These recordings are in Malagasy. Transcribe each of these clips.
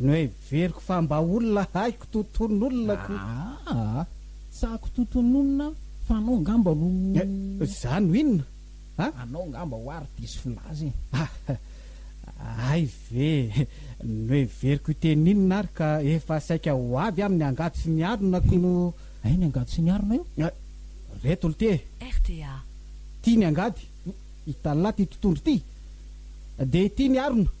Noheveriko fa mba olona haiko toton'olona ko. Aa! Tsy haiko toton'olona aho fa anao angamba no. Eh! Za no inona? A! Anao angamba ho ahy ry diso filaza e! Ah! Hay ve! Noheveriko hiteny inona ary ka efa saika ho avy aho amin'ny angady sy ny harona ko no. Hay ny angady sy ny harona io? Ah! Reto lty e! RTA. Tia ny angady? Italina ity totohondry ity! Dia ity ny harona?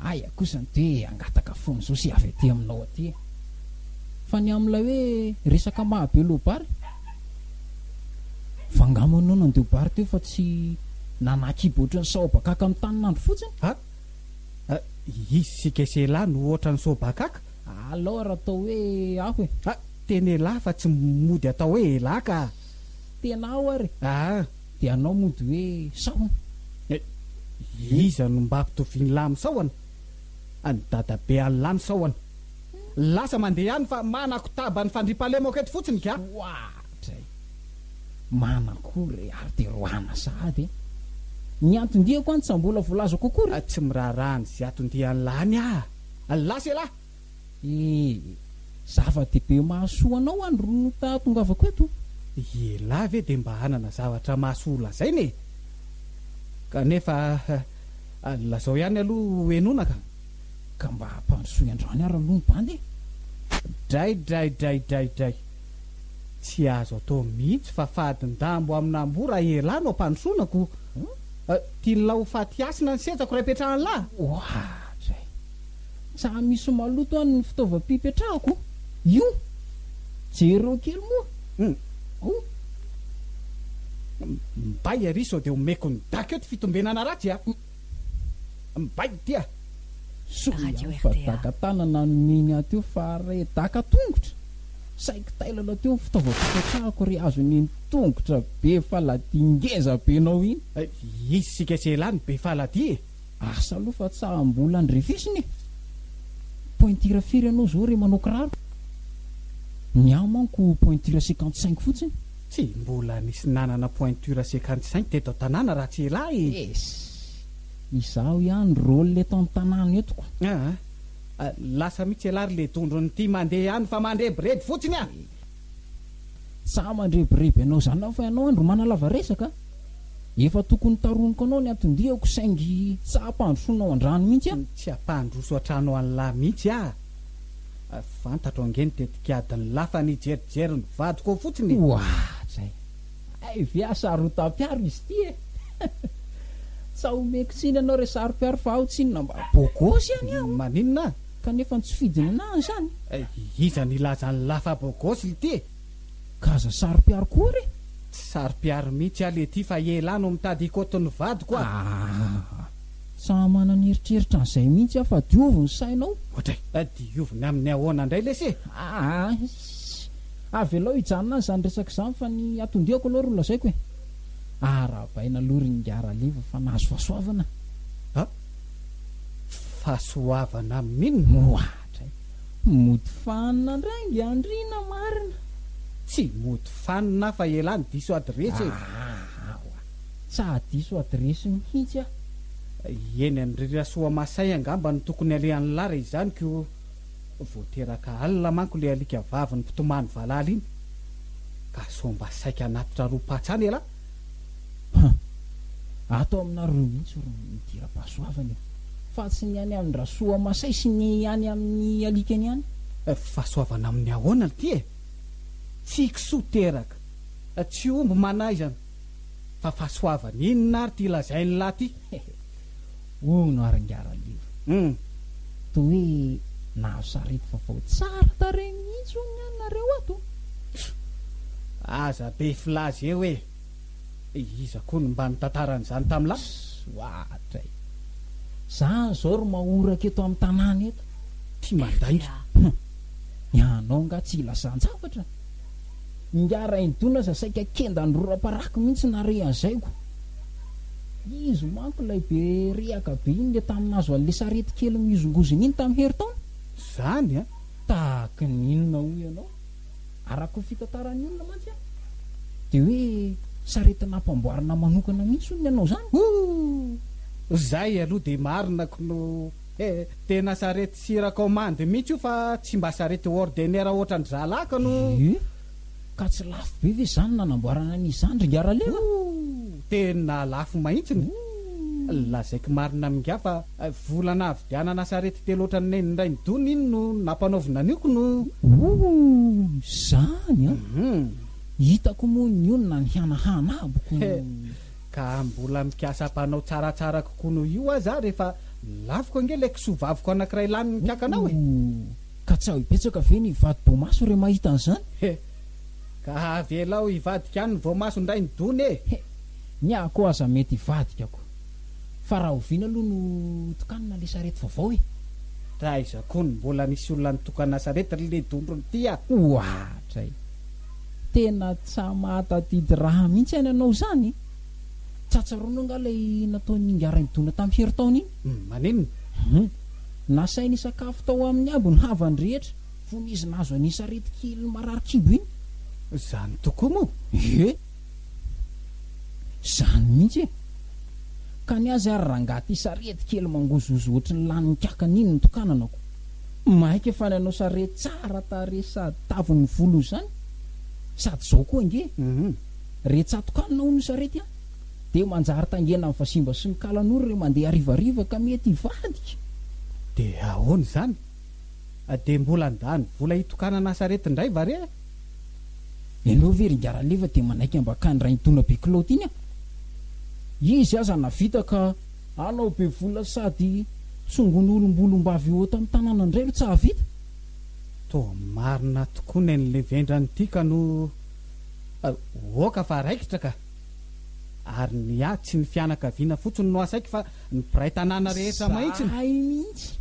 Aia kosa ny toe hangataka fony zao sy avy aty aminao aty e! Fa ny amin'ilay hoe resaka maha be lobary fa nga moa enao nandeho bary teo fa tsy nanahy kibo ohatry ny saobakaka mitany nandro fotsiny? Ha? Ha? Izy sy Gesela no ohatry ny saobakaka? Alao ary atao hoe aho e! Ha! Tena elah fa tsy mody atao hoe elah ka! Tena aho ary! Aa! Dia anao mody hoe sahona. Eh! Iza no mba ampitovian'lah amin'ny sahona? An'i dadabe an'lah ny sahona. Lasa mandeha ihany fa manakotaba ny fandriampahalemako eto fotsiny ga! Ohatra e! Manakory ary dia roahana sahady e! Ny anton-diako any tsa mbola voalazako akory e! Tsy miraharaha an'izay anton-dian'lah any ah! Lasa elah! Eh! Zava-dehibe mahasoa anao any ry no tahatongavako eto. Ialahy ve dia mba hanana zavatra mahasoa ho lazaina e! Kanefa lazao ihany aloha ho henoina ka! Ka mba ampandrosoy androany ary aloha ny bandy e! Draidraidraidraidray! Tsy azo atao mihitsy fa fadin-dambo amin'amboa raha ialahy no ampandrosoana ko! Tian'lah ho faty hasina ny setsako raha ipetrahan'lah? Ohatra e! Tsa misy maloto any ny fitaovam-pipetrahako io. Jereo kely moa. Hum. Mbay ary sao dia omeko ny dac eo ty fitombenana ratsy a! Mbay ity a! Sorry ihany fa daka tanana no mino ahy teo fa re daka tongotra? Saiky tailana teo ny fitaovam-pipetrahako re azo nino tongotra be faladia ngezabenao iny. Isika tsy elah ny be faladia e! Asa aloha fa tsa mbola andrefesina e! Pointure firy ianao zao re manao kiraro? Ny ahy manko pointure cinquante cinq fotsiny. Tsy mbola nisy nanana pointure cinquante cinq teto an-tanàna raha tsy ela e! Ess! Izaho ihany rôle eto an-tanàna eto ko! Aa! Lasa mihitsy ialahy ry ledondrony ity mandeha any fa mandrebireby fotsiny a! Sa mandrebireby anao zany aho fa ianao andry manalava resaka? Efa tokony taroniko anao ny anton-diako saingy sa ampandrosoanao an-drano mihitsy aho? Tsy ampandroso an-trano an'lah mihitsy aho. Fantatro ange ny tetik'adin'ny lah fa nijerijery ny vadiko ao fotsiny e! Oahatra e! Hay ve aho sarotam-piaro izy ity e! Sa omeko tsiny ianao re sarom-piaro fa aho tsinona mba bogosy ihany aho? Maninona? Kanefa ny tsy fidinana any zany. Iza nilaza an'i Lafa bôgôsy lty e? Ka aza saropiaro koa re. Tsy saropiaro mihitsy aho lty fa ialahy no mitady hikôty ny vadiko a! Ahh. Tsa manana eritreritra an'izay mihitsy aho fa diovy ny sainao. Ohatray. Diovy ny amin'ny ahoana indray lesy e? Ahh. Iss. Avelao hijanona any izany resaka izany fa ny atondiako aloha ro lazaiko e. Arahabaina aloha ry Ingahy Raleva fa nahazo fahasoavana. fahasoavana amin moa hatray. Mody fanina ndray ngy andriana marina. Tsy mody fanina aho fa elah ny diso adiresy e! Ahahaha! Tsahadiso adiresy mihitsy aho. Eny an dry Rasoamasay angamba no tokony alehanlah raha izany ko vao teraka alina manko le alika vaviny mpitomany valala iny ka sao mba saika hanatitra roa-patsana elah. Huh! Ato aminareo mihitsy ry Nidirapahasoavana e! Fa tsy ny any amin'i Rasoamasay sy ny any amin'ny alikany ihany. Fahasoavana amin'ny ahoana ity e! Tsy kisoa teraka, tsy omby manaizana, fa fahasoavana inona ary ity lazain'ilahy ity? Hono ary nga Raleva Humm toa hoe nahazo sarety vaovao tsara tarehy mihitsy hono ny anareo ato. Pff! Aza be filaza eo e! Iza koa no mba nitantara an'izany tamin'i la. Pss! Ohatra e! Zany zao ry mahoraka eto amin'ny tanàna eto. Tia mandainga. Humm! Ianao nga tsy ilazan-javatra? Ingahy Rainidona aza saika kendan'ny rora-parako mihitsy narehazaiko. Izy manko ilay be rehaka be iny le tamin'ny nahazo an'le sarety kely mihozongozona iny tamin'ny herintaona. Zany an! Tahaky ny inona hoy ianao? Araka ny fitantaran'ny olona mantsy an! Dia hoe sarety nampanboarina manokana mihitsy hono ny anao zany? Ooh! Zay aloha dia marina knou! He, tena sarety sira commande mihitsy io fa tsy mba sarety ordener ohatran'ny zalaka no. He, ka tsy lafo be ve izany nanamboarana an'i Zandry ingahy Ralema? Hoo, tena lafo mahitsiny. Hoo, lazaiko marina amin'ingahy fa vola nahavidianana sarety telo ohatran'ny nen'ny Rainidona iny no nampanaovina an'io ko no. Hoo, izany an! Hum. Hitako moa ny olona nihanahana aboko. He. Ka mbola mikasa mpanao tsaratsara kokoa noho io aza aho rehefa lafiko ange ilay kisoa vaviko anankiray lany mikankanao e! Ouh! Ka tsy aho hibetsaka ve ny vadi-boamaso re mahita an'izany? He! Ka avelao hivadika any ny voamason-drainy dony e! He! Ny ahy koa aza mety hivadika ko! Fa rahoviana aloha no tokanina ilay sarety vaovao e? Taiza kony mbola nisy olona nitokana sarety ry le dondrona ity a! Oatra e! Tena tsa mahatadidy raha mihitsy any anao izany. Tsa tsaroanao angaha ilay nataon'i Ingahy Rainidona tamin'ny herintaona iny? Humm, maninona? Humm, nasainy hisakafo tao aminy aby ny havany rehetra fony izy nahazo an'iny sarety kely marary kibo iny. Izany tokoa moa? Ie. Zany mihitsy e! Ka ny azy ary rangaha ty sarety kely mangozohozo ohatry ny lanin'ny kakana iny ny tokananako. Maika fa ny anao sarety tsara tarehy sady tavon'ny volony zany sady zao koa ange re tsatokanina hono ny sarety a! Dia manjary tangenan'ny vazimba sy ny kalan'ora re mandeha harivariva ka mety hivadika! Dia ahoana izany? Dia mbola handany vola hitokanana sarety ndray va re? Ianao ve ry Ingaraleva dia manaiky ambakany Rainitona be kilaoty iny an? Izy aza navita ka anao be vola sady tsongon olomboolombavy ho eto am tanana ndray no tsahavita? Toa marina tokoa nenle vendrany ty ka no oka fa raikitra ka! Ary ny ahy tsy ny fianakaviana fotsiny no asaiko fa ny mpiray tanàna rehetra mahintsiny! Zahay mihintsy!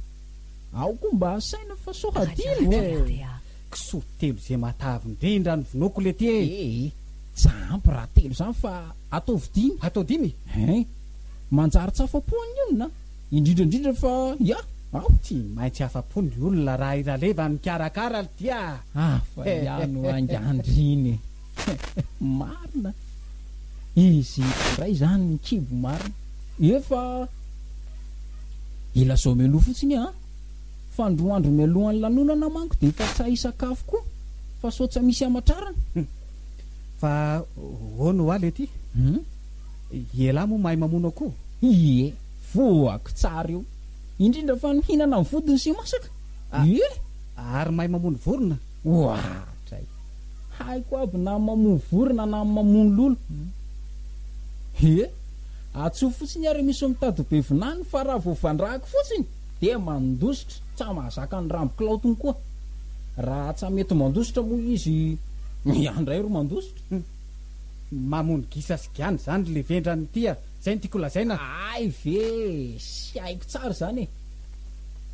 Ao koa mba asaina fa sao hadino eh. Kisoa telo ze matavy ndrindra ny vonoako lety eh. Ee, tsa ampy raha telo zany fa ataovy dimy. Atao dimy? Hein. Manjary tsy afa-po ny olona, indrindra indrindra fa iah aho. Tsy maintsy afa-po ny olona raha i Raleva mikarakara lty ah. Hafa ihany oa inga andriny. Marina, izy indray izany ny kibo marina. Ie fa ilazao mialoha fotsiny an! Fa ny roa andro mialohan'ny lanonana manko dia efa tsy hay hisakafo koa fa sao tsy misy hamatrarana. Hum. Fa hono hoa lety? Hum. Ialahy moa mahay mamono akoho? Ie, voako tsara io. Indrindra fa ny mihinana ny vodiny sy masaka. Ie. Ary mahay mamono vorona? Ohatra e! Haiko aby na mamoa vorona na mamono lolo ee! Atsoy fotsiny ary misy mitady be vinany fa raha vao vandrahako fotsiny dia mandositra tsa mahazaka ny rambo kilaotiny koa raha tsa mety mandositra moa izy miha ndray ro mandositra e! Mamono gisa sy giana izany le vendrany tia, zay no tiako lazaina. Hay ve! Tsy haiko tsara izany e!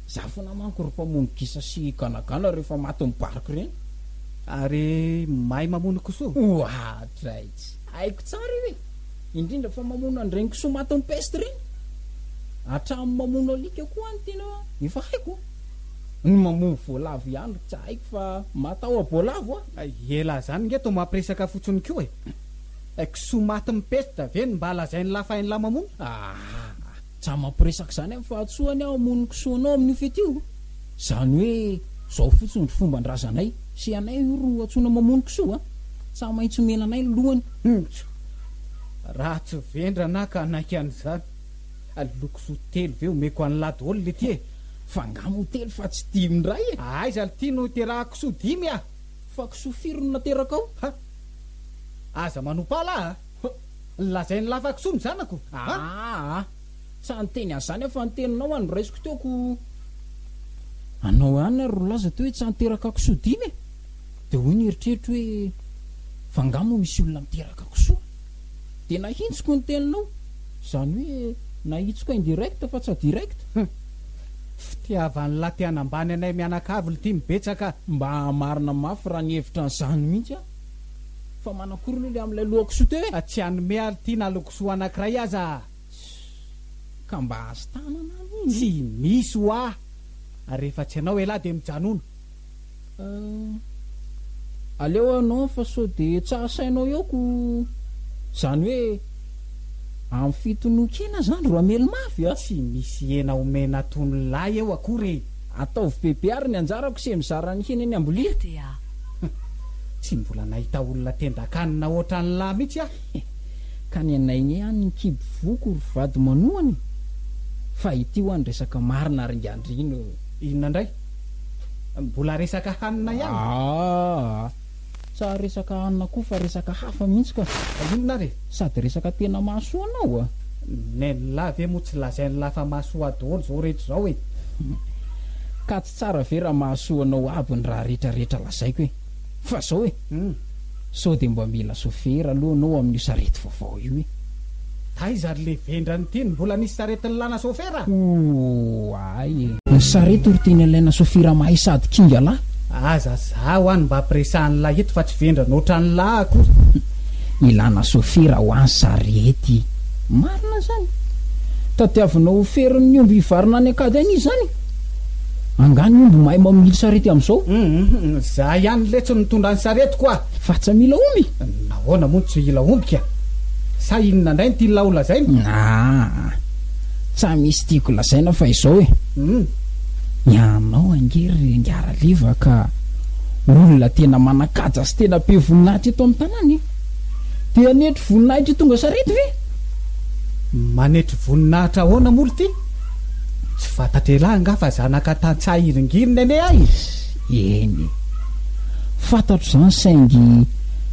Za fona manko ry mpamono gisa sy ganagana rehefa maty mibariko reny. Ary mahay mamono kisoa? Oatraizy! Haiko tsara io e! Indrindra fa mamono an'ireny kisoa matin'ny peste reny. Hatramin'ny mamono alika koa any tena efa haiko. Ny mamono voalavo ihany ry tsy haiko fa matahoa boalavo a! Ela zany nge to mampiresaka fotsiny ko e! Kisoa matin'ny peste ve no mba lazain'lah fa hain'lah mamono? Aa! Tsa mampiresaka izany amin'ny fahatsoany aho hamono ny kisoa anao amin'io fety io. Izany hoe izao fotsiny ry fomban-drazanay, sy anay io ro antsoina mamono kisoa a! Tsa maintsy omena anay ny lohany. Njo, raha tsy vendrana aho ka hanaiky an'izany, aleo kisoa telo ve omeko an'i Lady Holly ity e! Fa angaha moa telo fa tsy dimy indray e! Aiza ry ty no hiterahako kisoa dimy a! Fa kisoa firy no naterakao? Ha! Aza manompa ahy lahy a! Lazain'i Lafakisoa ny zanako a! Aa! Tsa niteny an'izany aho fa ny teninao a noraisiko teo ko! Anao ihany ary nilaza teo hoe tsa niteraka kisoa dimy e! Dia hoy ny eritreritro hoe fa angaha moa misy olona miteraka kisoa? Dia nahitsiko ny teninao, izany hoe nahitsiko indirect fa tsa direct! Hum! Fitiavan'lah te hanambany anay mianakavy ltimy betsaka! Mba hahamarina mafy raha nihevitra an'izany mihitsy aho! Fa manakôry aloha le amin'ilay loha kisoa teo e? Fa tsy hanome ary ity na lokisoa anankiray aza ah! Ka mba azo tanana any iny e! Tsy misy hoa! Ary rehefa tsy anao elah dia mijanona! Ah, aleo anao fa sao dia tsy ahasainao eo ko! Zany hoe amin'ny fito noho kena zany ro hamely mafy ah! Tsy misy hena omena tonolahy eo akory e! Ataovy bebe ary ny anjarako se mizara ny hena eny ambolia. Rta, tsy mbola nahita olona tendan-kanina otran'lah mitsy ah. Ka ny anay ny any ny kibo voky ry vady manohana e! Fa ity ho'a ny resaka marina ry ngandrina o! Inona indray? Mbola resaka hanina ihany? Aa! Tsa resaka hanina koa fa resaka hafa mihitsy ka. Io Nla re, sady resaka tena mahasoa anao a! Ny Nla ve moa tsy lazain'i Nla fa mahasoa daholo izao rehetra izao e! Ka tsy tsara ve raha mahasoa anao aby ny raha rehetra rehetra lazaiko e! Fa izao e! Sao dia mba mila chauffeur aloha anao amin'io sarety vaovao io e! Taiza ry le vendrana ity no mbola nisy sarety nilana sofera? Oay e! Ny sarety ry tena ilaina sofira mahay sady kinga lahy. Aza zaho any mba ampiresahan'ny lahy eto fa tsy vendrana otran'ny lahy akory. Ilana sofira hoa ny sarety. Marina zany. Tadiavinao ho ferin'ny omby hivarina any ankady any izy zany? Angaha ny omby mahay mamily sarety amin'izao? Izaho ihany letsy no mitondra ny saretiko a! Fa tsy mila omby? Nahoana moa no tsy hila omby ka? Sa inona indray no tianao ho lazaina? Aa! Tsa misy tiako lazaina fa izao e! Ianao ange ry Ngaraliva ka olona tena manan-kaja sy tena be voninahitra eto amin'ny tanàna e! Te hanetry voninahitra hitondra sarety ve? Manetry voninahitra ahoana moa ry ty? Tsy fantatr'elah angaha fa zanaka tantsaha hiringirin'ny anie ahy izy? Eny. Fantatro izany saingy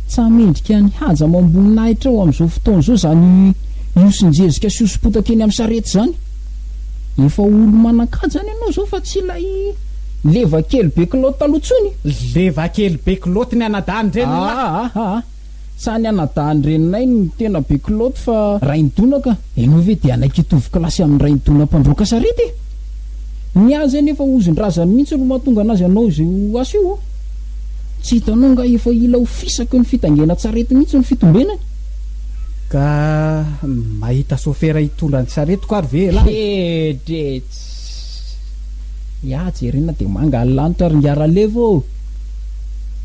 tsa mendrika ny haja amam-boninahitra ao amin'izao fotoana izao izany hiosin-jezika sy hoso-potaka eny amin'ny sarety izany. Efa olo-manan-kaja any ianao izao fa tsy ilay leva kely be kilaoty taloha intsony. Leva kely be kilaoty ny anadahin'ny reninao. Aa! Sa ny anadahin'i reninay no tena be kilaoty fa rain'i Dona ka? Ianao ve dia hanaiky hitovy kilasy amin'ny rain'i Dona mpandroaka sarety e? Ny azy anefa ozin-drazany mihitsy no mahatonga anazy hanao izay ho asy io ô! Tsy hitanao angaha efa hila ho fisaky ny fitaingenan-tsarety mihitsy ny fitombenany? Ka mahita sôfera hitondra ny saretiko ary ve ialahy? Heedrets! Ya jerena de manga ny lanitra ry ngiaralevo ô!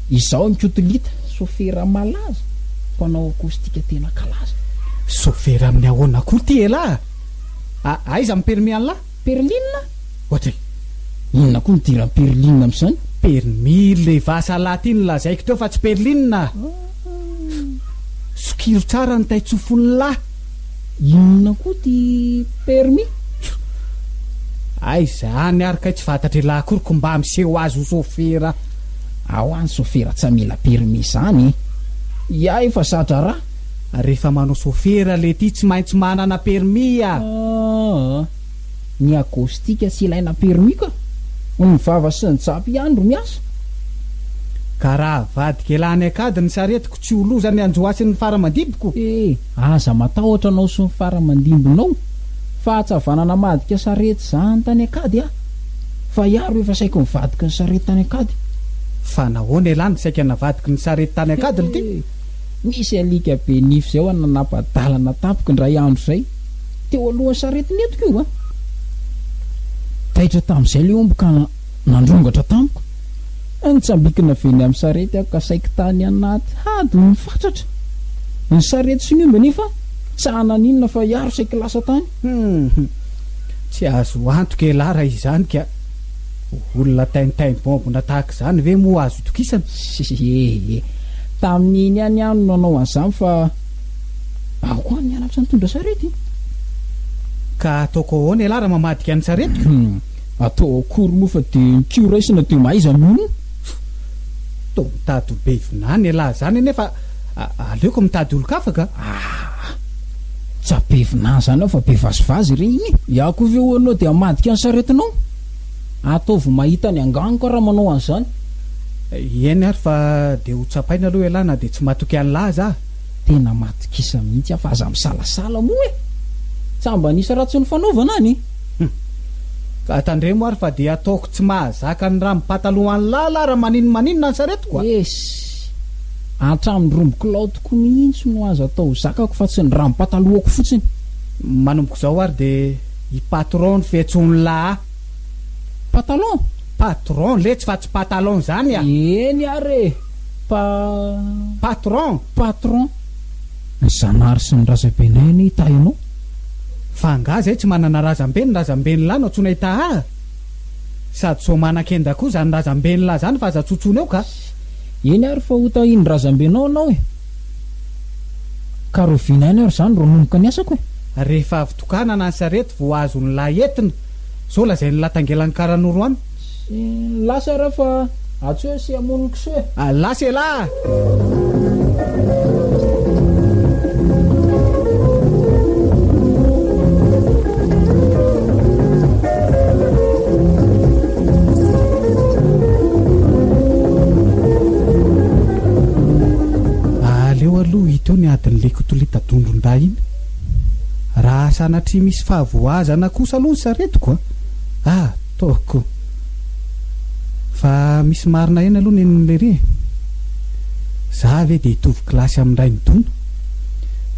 Izao ny kotolita, sofera malaza, mpanao acoustique tena kalaza. Sofera amin'ny ahoana koa ity elah a! Aiza ny permis anlah? Perline? Ohatry e! Inona koa ny idiran'ny perline amin'izany? Permis le vasa lah ty no lazaiko teo fa tsy perline a! Sokiro tsara ny taitsofonlah! Inona koa ty permis? Tjo! Aiza any ary kay tsy fatatr'ialahy akory ko mba miseho azy ho sofera. Ao any sofera tsy mila permis zany e. Ia efa za-draharaha. Rehefa manao sofera lety tsy maintsy manana permis a. Aa. ny akostika tsy ilaina permis ka ny vava sy ny japy ihany ro miasa. Ka raha avadika elah any ankady ny saretiko tsy ho loza ny anjoasin'ny fara-mandibiko? Eh, aza matahotra anao sy ny fara-mandimbinao, fahatsavana namadika sarety zany tany ankady ah! Fa iah ro efa saiky nivadiky ny sarety tany ankady. Fa nahoana elah no saika navadiky ny sarety tany ankady ry ty? Eh, nisy alika be nify zay hoa nanapa-dalana tampoka indray andro izay. Teo alohan'ny saretiny eto koa a! Taitra tamin'izay ilay omby ka nandrongatra tamiko. Nitsambikina avy eny amin'ny sarety aho ka saiky tany anaty hady ny fatratra. Ny sarety sy ny omby anefa tsy hanana n'inona fa hiaro saiky lasa tany. Hum! Tsy azo antoka elah raha izany ka! Olona tintin bombona tahaka izany ve moa azo itokisana? He he he! Tamin'iny ihany aho no nanao an'izany fa. Aoka ho an'ny halatra nitondra sarety e! Ka ataoko ahoana ialahy raha mamadika ny saretiko? Hum, atao akory moa fa dia ny kiho raisina dia mahaiza mino? Toa mitady ho be vinany ialahy izany anie fa aleoko mitady olon-kafa ka! Aa! Tsa be vinany izany aho fa be vazivazy re iny e! Iah koa ve ho'anao dia hamadika ny saretinao? Ataovy mahita ny angano ka raha manao an'izany. Eny ary fa dia ho tsapaina aloha ialahy na dia tsy matoky an'lah aza aho. Tena matokisa mihitsy aho fa aza misalasala moa e! Tsa mba nisy ratsy nifanaovana any e! Hum. Ka tandremo ary fa dia ataoko tsy mahazaka ny rambom pataloha an'lah lah raha maninona maninona ny saretiko a! Ess! Hatramin'ny rambom kilaotiko mihitsy no aza atao zakako fa tsy ny rambom patalohako fotsiny. Manomboka izao ary dia. I patron no fiantsoany la a! Patalon? Patron letsy fa tsy patalon zany a! Eny ary e! Pa. Patron! Patron! Ny zanahary sy ny razabenay anie hitahy anao! Fa angaha zay tsy manana razambe ny razambeny lahy no antsoina hitahy ahy? Sady sao manan-kenda koa zany razambeny lahy zany fa aza tsotsoina eo ka! Eny ary fa hotahin'ny razambenao anao e! Ka roviana ihany ary izany ro nomboka ny asako e! Rehefa avy tokanana ny sarety vao azo ny lahy entina, sao lazain'ny lahy tangelan'ny karanoro any. Tsy lasa ara fa atsy hoe sy hamono ny kisoa e! Lasa elah! Aleo aloha hito ny adin'ny lekotolita dondron-dahy iny. Raha sanatria misy fahavoazana kosa aloha ny saretiko a! ataoko. Fa misy marina ihany aloha nen'i Lery e! Za ve dia hitovy kilasy amin'i Rainidona?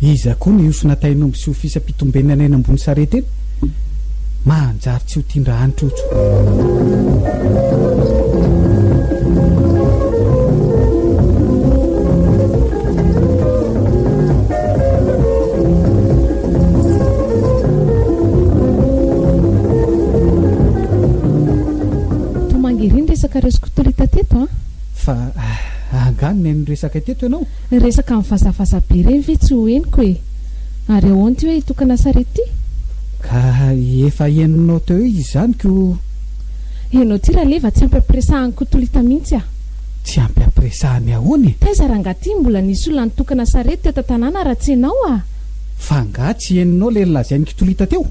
Iza koa no hiofina tain'omby sy ho fisam-pitombenana eny ambony sarety eny? Manjary tsy ho tian-dra any Toa mangery ny resaka raisiko tolita teto an! Fa angaha neno ny resaka teto ianao? Ny resaka mivazavaza be ireny ve tsy ho henoko e! Ary ahoana ity hoe hitokana sarety ity? Ka efa henonao teo izy izany ko! Henao ity raleva tsy ampy ampiresahan'i Kotolita mihitsy ah! Tsy ampy ampiresahany ahoana e! Taiza rangah ity mbola nisy olona nitokana sarety teto an-tanàna raha tsy ianao ah! F'angaha tsy henonao ilay nolazain'i Kitolita teo?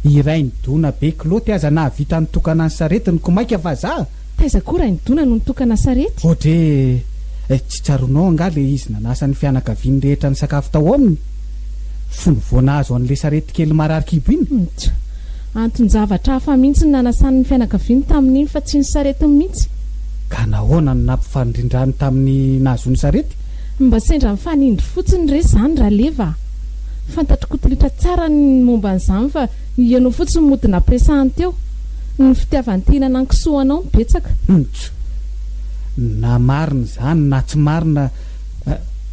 Iray nidona be kilaoty aza nahavita nitokana ny saretiny ko maika vazaha! Taiza koa Rainidona no nitokana sarety? Odre eh, tsy tsaroanao angaha le izy nanasa ny fianakaviany rehetra nisakafo tao aminy fony vao nahazo an'le sarety kely marary kibo iny? Mts, anton-javatra hafa mihitsy ny nanasany ny fianakaviany tamin'iny fa tsy ny saretiny mihitsy. Ka nahoana no nampifanindrindrany tamin'ny nahazoany sarety? Mba sendra mifanindry fotsiny re zany Raleva a! Fantatr'i Koto Ritra tsara ny momba an'izany fa Ianao fotsiny mody napiresahany teo. Ny fitiavany te-hihinana ny kisoanao no betsaka. Humph! Na marina izany na tsy marina,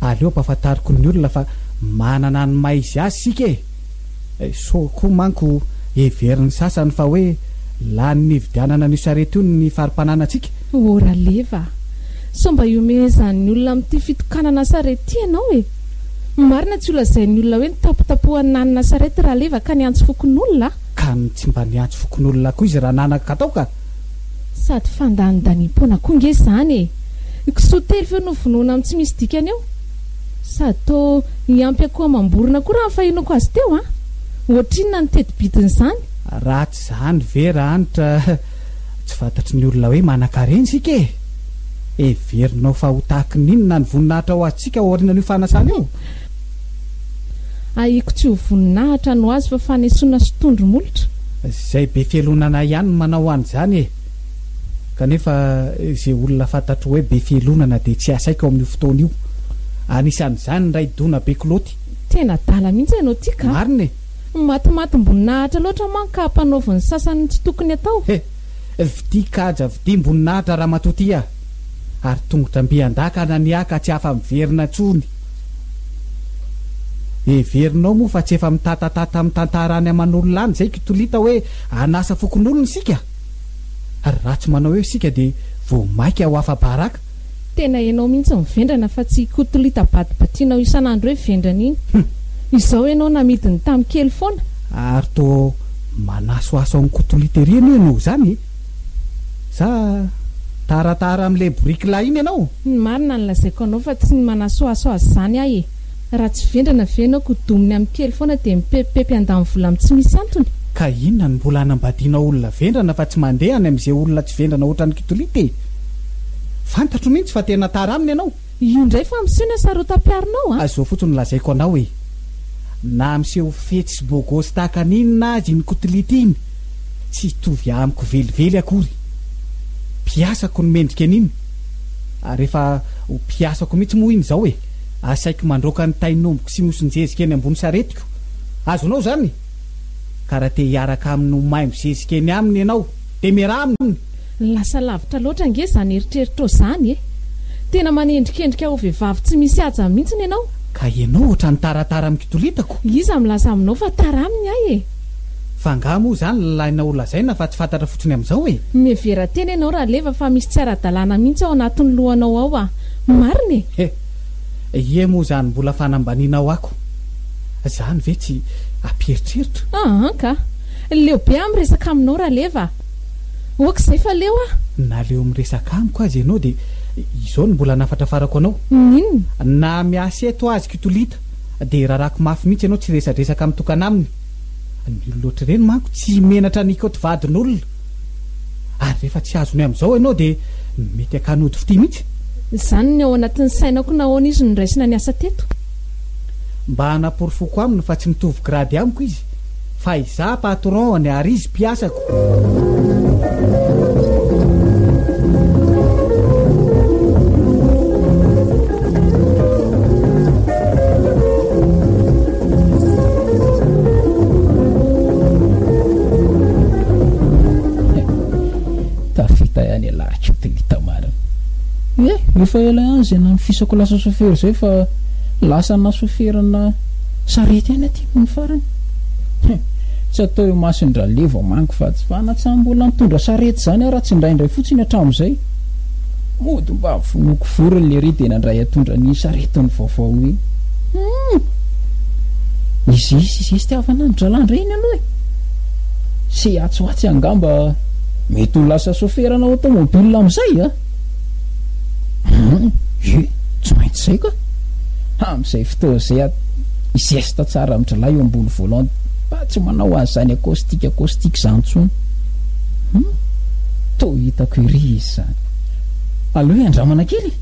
aleo ampahafantariko ny olona fa manana ny maha izy azy isika e! Sao koa manko heverin'ny sasany fa hoe lanin'ny hividianana an'io sarety io ny fari-pananantsika? Ô Raleva a! Sao mba ihomehezan'ny olona amin'ity fitokanana sarety ity ianao e! Ny marina tsy ho lazain'ny olona hoe nitapotapohan'i Nana na Sarety Raleva ka niantso fokonolona a! Ka tsy mba niantso fokonolona koa izy Rananaka tao ka! Sady fandanindaniam-poana koa nge izany e! Ny kisoa telo eo no vonoina amin'ny tsy misy dikany eo! Sady toa niampy akoho amam-borona koa raha ny fahenoako azy teo a! Ohatrinona ny teti-bidin'izany? Ratsy izany ve Ranitra? Tsy fantatry ny olona hoe manankarena isika e! Heverinao fa ho tahaky ny inona ny voninahitra ho antsika ao aorianan'io fanasana io? Ahiako tsy ho voninahitra no azy fa fanesoana sy tondro molotra. Izay be fialonana ihany no manao an'izany e! Kanefa izay olona fantatro hoe be fialonana dia tsy asaiko ao amin'io fotoana io. Anisan'izany ny Ray Dona be kilaoty. Tena adala mihitsy ianao ity ka! Marina e! Matimatim-boninahitra loatra manko ka ampanaovin'ny sasany ny tsy tokony atao. He! Vidia kaja vidiam-boninahitra ramatoa ty ah! Ary tongotra mby an-daka na ny ahy ka tsy afa-miverina intsony. Heverinao moa fa tsy efa mitatatata mitantara any aman'olona any izay kitolita hoe an'asa fokonolona isika? Ary raha tsy manao eo isika dia vao maika ho afa-baraka? Tena ianao mihitsy no vendrana fa tsy i Kotolita badibatianao isan'andro hoe vendrana iny. Hum! Izao ianao namidy ny tam kely foana? Ary toa manasohaso an'i Kotolita ery anie ianao izany e! Sa taratara amin'ilay boriky lahy iny ianao? Ny marina no lazaiko anao fa tsy ny manasohaso azy izany aho e! Raha tsy vendrana ve ianao ko dominy amin'ny kely foana dia mipepipepy handany vola amin'ny tsy misy antony? Ka inona no mbola hanambadianao olona vendrana fa tsy mandeha any amin'izay olona tsy vendrana ohatran'i Kitolita e! Fantatro mihitsy fa tena tara aminy ianao. Io indray fa miseho ny hasarotam-piaronao a! Izao fotsiny no lazaiko anao e! Na miseho fetsy sy bôgôsy tahaka ny inona aza iny Kitolita iny, tsy hitovy amiko velively akory. Mpiasako no mendrika an'iny, ary efa ho mpiasako mihitsy moa iny izao e! Asaiko mandroaka ny tain'ombiko sy nosin-jezika eny ambony saretiko. Azonao izany? Ka raha te hiaraka aminy ho maimbo zezika eny aminy ianao, dia miaraha aminy! Lasa lavitra loatra ange izany eritreritrao izany e! Tena manendrikendrika ho vehivavy tsy misy haja mihitsy ny ianao! Ka ianao ohatran'ny taratara amin-kitoritako! Iza milaza aminao fa tara aminy ahy e? Fa angaha moa izany ilaina ho lazaina fa tsy fantatra fotsiny amin'izao e? Mihevera tena ianao Raleva fa misy tsy ara-dalàna mihitsy ao anatin'ny lohanao ao a! Marina e! He! Ie moa izany mbola fanambanianao ako izany ve tsy ampieritreritra? Aa ka! Leo be aho miresaka aminao Raleva a! Ok izay fa leo aho! Na leo miresaka amiko aza ianao dia izao no mbola hanafatrafarako anao! N'inona? Na miasa eto azy Kitolita! dia rarako mafy mihitsy ianao tsy resadresaka mitokana aminy, ny olona ohatr'ireny manko tsy menatra ny hikaoty vadin'olona, ary rehefa tsy azonay amin'izao ianao dia mety hakany ody fitia mihitsy. Izany ny ao anatin'ny sainako nahoana izy no noraisina niasa teto. Mba hanaporofoko aminy fa tsy mitovy grady amiko izy, Fa izaho patron any ary izy mpiasako. Tafita ihany ialahy kintiny hita marina. Eh, efa ela ihany izay nanofisako lasa sofera izay fa lasa nasoferana Sarety ihany aty hono farany. He, tsy atao eo masony dra le vao mangy fa tsy fa na tsy hambola nitondra sarety zany ara tsy indraindray fotsiny hatramizay. Mody mba vonoiko vorony lery de nandray hatondra ny saretiny vaovao iny. Hum! Izay sy izay sitiavana an dralahy ndray iny aloha e! Sehatsohatsy angamba mety ho lasa soferana automobile amizay a! An, je, tsy maintsy izay ka. Amin'izay fotoana izay aho hi-zesta tsara amin'i Drilahy eo ambony volant mba tsy manao an'izany acoustic acoustic izany intsony. Hum, toa hitako ery izy izany. Aleo hiandramana kely e!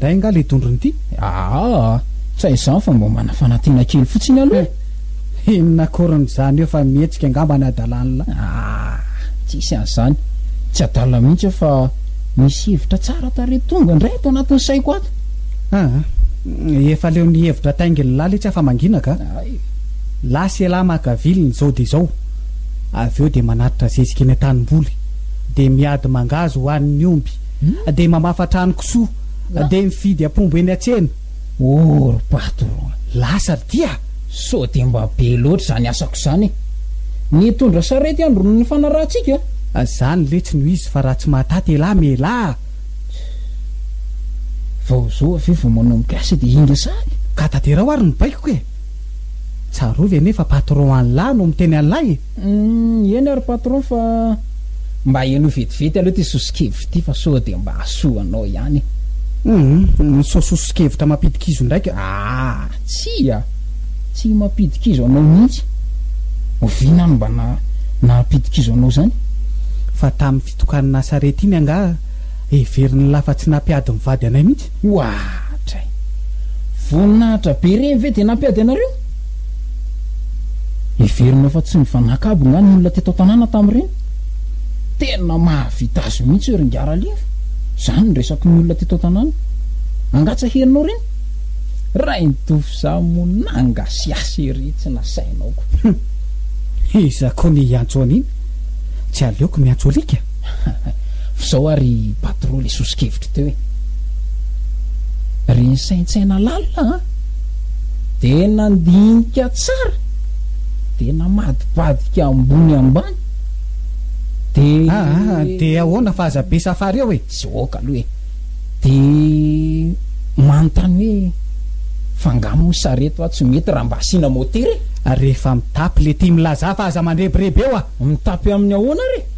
indray nga le dondrony ity aa ah, ah. fa izany fa mba manafana tena kely fotsiny aloha eh. Inona akoriny zany eo fa mihetsika angamba ny adalanla. Aah tsisy an'izany, tsy adala mihitsy aho fa misy hevitra tsara tarehy tonga indray ato anatin'ny saiko ato. Aa, efa leo ny hevitra taingin'lah letsy afa-mangina ka. Hay. Lasa elah maka vily ny zao dia zao, avy eo dia manatitra zezika eny an-tanimboly, dia miady mangahazo ho an'ny omby, dia mamafa trano kisoa, dia mifidy apombo eny an-tsena. Oh ry patron a! Lasa dia? Sao dia mba be loatra izany asako izany e! Nitondra sarety andron'ny nifanarahantsika? Izany letsy no izy fa raha tsy mahataty elah melah a! Tch! Vao izao ve vao manomboka asa dia hinga saly? Ka taterao ary ny baikoko e! Tsarovy anie fa patron an'lah no miteny an'lah e! Humm eny ary patron fa mba henoy vetivety aloha ity soso-kevitra ity fa sao dia mba hahasoa anao ihany e. Humm ny sao soso-kevitra mampidi-kizo ndraika aa. Tsia, tsy mampidi-kizo anao mihitsy. Oviana no mba nahampidi-kizo anao izany? Fa tamin'ny fitokanana sarety iny angaha heverin'ny lafa tsy nampiady ny vady anay mihitsy? Oadray! Voninahitra be reny ve dia nampiady anareo? Heverina fa tsy nifanakabo nga ny olona teto an-tanàna tamin'ireny? Tena mahavita azy mihitsy eo ry Ngaralieva, izany ny resaky ny olona teto an-tanàna. Angaha tsy ahelinao ireny? Rainitofo izaho moa nangasiasy ery tsy nasainao koa. Iza koa ny hiantso an'iny? Tsy aleoko miantso alika. Fa zao ary patron le soso-kevitra teo e! Ry nisaintsaina lalina an! De nandinika tsara de namadibadika ambony ambany de. Aa de ahoana fa aza be safary eo e! Sy ok aloha e! De manontany hoe fa nga moa sa reto a tsy mety raha mba asiana motera e! Rehefa mitapy le tim laza fa aza mandrebireby eo a! Mitapy amin'ny ahoana re?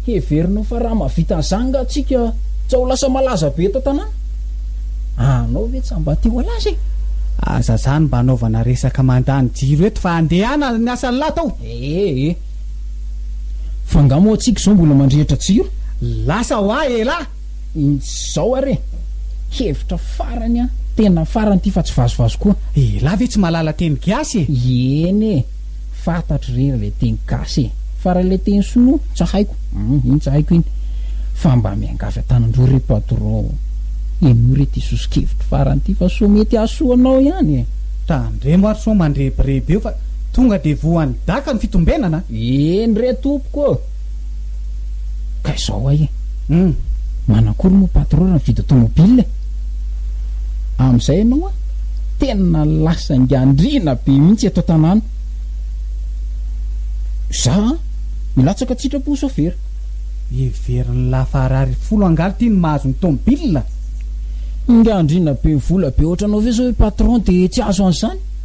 Heverina fa raha mahavita an'izany nga tsika tsy ao lasa malaza be eto tanàna? Anao ve tsa mba te ho alaza e? Aza zany mba anaovana resaka mandany jiro eto fa andehana ny asan'ny lahy tao. Ee e. Fa nga moa tsika izao mbola mandrehitra jiro? Lasa ho ahy elah! Izao ary e. Hevitra farany an, tena farany ity fa tsy vazovazo koa. Elah ve tsy mahalala teny gasy e? Eny e. Fantatro re ilay teny gasy e! Fa raha ilay teny sinoa tsy haiko hum iny tsy haiko iny. Fa mba miangavy an-tanandroa re patron ô! Henoy re ity soso-kevitro farany ity fa soa mety hahasoa anao ihany e! Tandremo ary sao mandrebireby eo fa tonga dia voan'ny daka ny fitombenana a! Eny re tompoko ô! Ka izao ay e! Hum! Manakory moa patron raha mividy automobile e! Amin'izay ianao a! Tena lasa ingaandriana be mihitsy eto an-tanàna. Za a! Milatsaka tsy hitrapo ho sôfera. Heverin'i Lafarary folo angaha ity ny mahazo ny tomobile? Ingaandriana be vola be ohatranao ve izao ry patron dia tsy azo an'izany?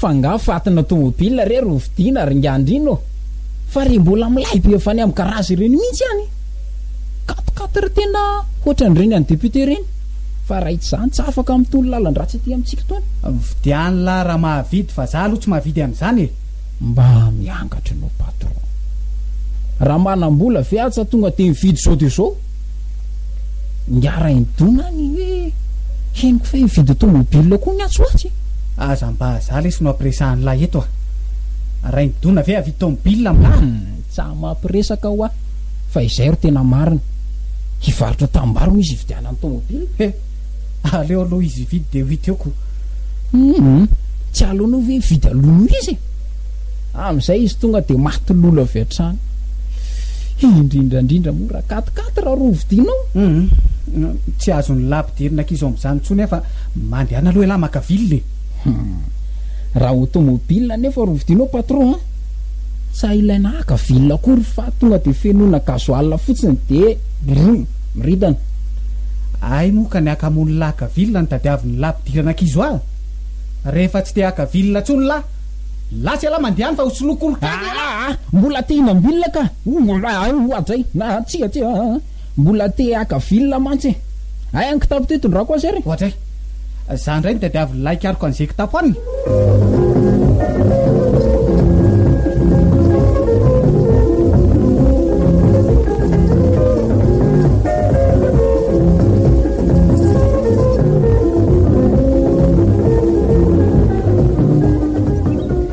Fa nga fatina tomobil re ro vidina ry ngandrina ô? Fa re mbola milay be avy any am garage ireny mintsy any e! Quatre quatre tena hoatran reny any député reny fa raha itzany tsy afaka am tony lalandratsy aty amitsika tony. Vidiano lah raha mahavidy fa za aloha tsy mahavidy an'izany e! Mba miangatra anao patron. Raha manam-bola ve aza tonga dia mividy zao dia zao. Niara-indona any hoe henoko fa hividy tomobilina koa ny atsy ho atsy. Aza mba za lesy no ampiresahan'lah eto a! Raindona ve havidy tomobilina amin'lah? Tsa mampiresaka hoa fa izay ro tena marina. Hivarotra tanimbary hono izy hividianany tomobilina. He! Aleo aloha izy hividy dia ho hita eo ko. Hum! Tsy aleonao ve hividy aloha noho izy e? Amin'izay izy tonga dia maty lolo avy hatrany. Indrindra indrindra moa raha katikaty raha rovidinao. Hum, tsy azon'ny lahy mpidirina ankizy ao amin'izany intsony aho fa mandehana aloha ialahy maka ville e. Hum, raha automobile nefa rovidinao patron an! Tsa ilaina haka ville akory fa tonga dia fenoina gasoil fotsiny dia brum, miridana. Hay moa ka ny haka hamono lahy haka ville no tadiavin'ny lahy mpidirana ankizy hoa? Rehefa tsy te haka ville intsony lahy. Lasa ialahy mandeha any fa ho soloiko olon-kafa ialahy. Aa! Mbola te hinam-bilona ka! Oa dray! Aa! Tsia tsia! Aa! Mbola te haka vilona mantsy e! Hay any kitapo ty tondrako azy ary e! Oa dray! Za indray no tadiavin' ilay hikariko an'izay kitapo any e!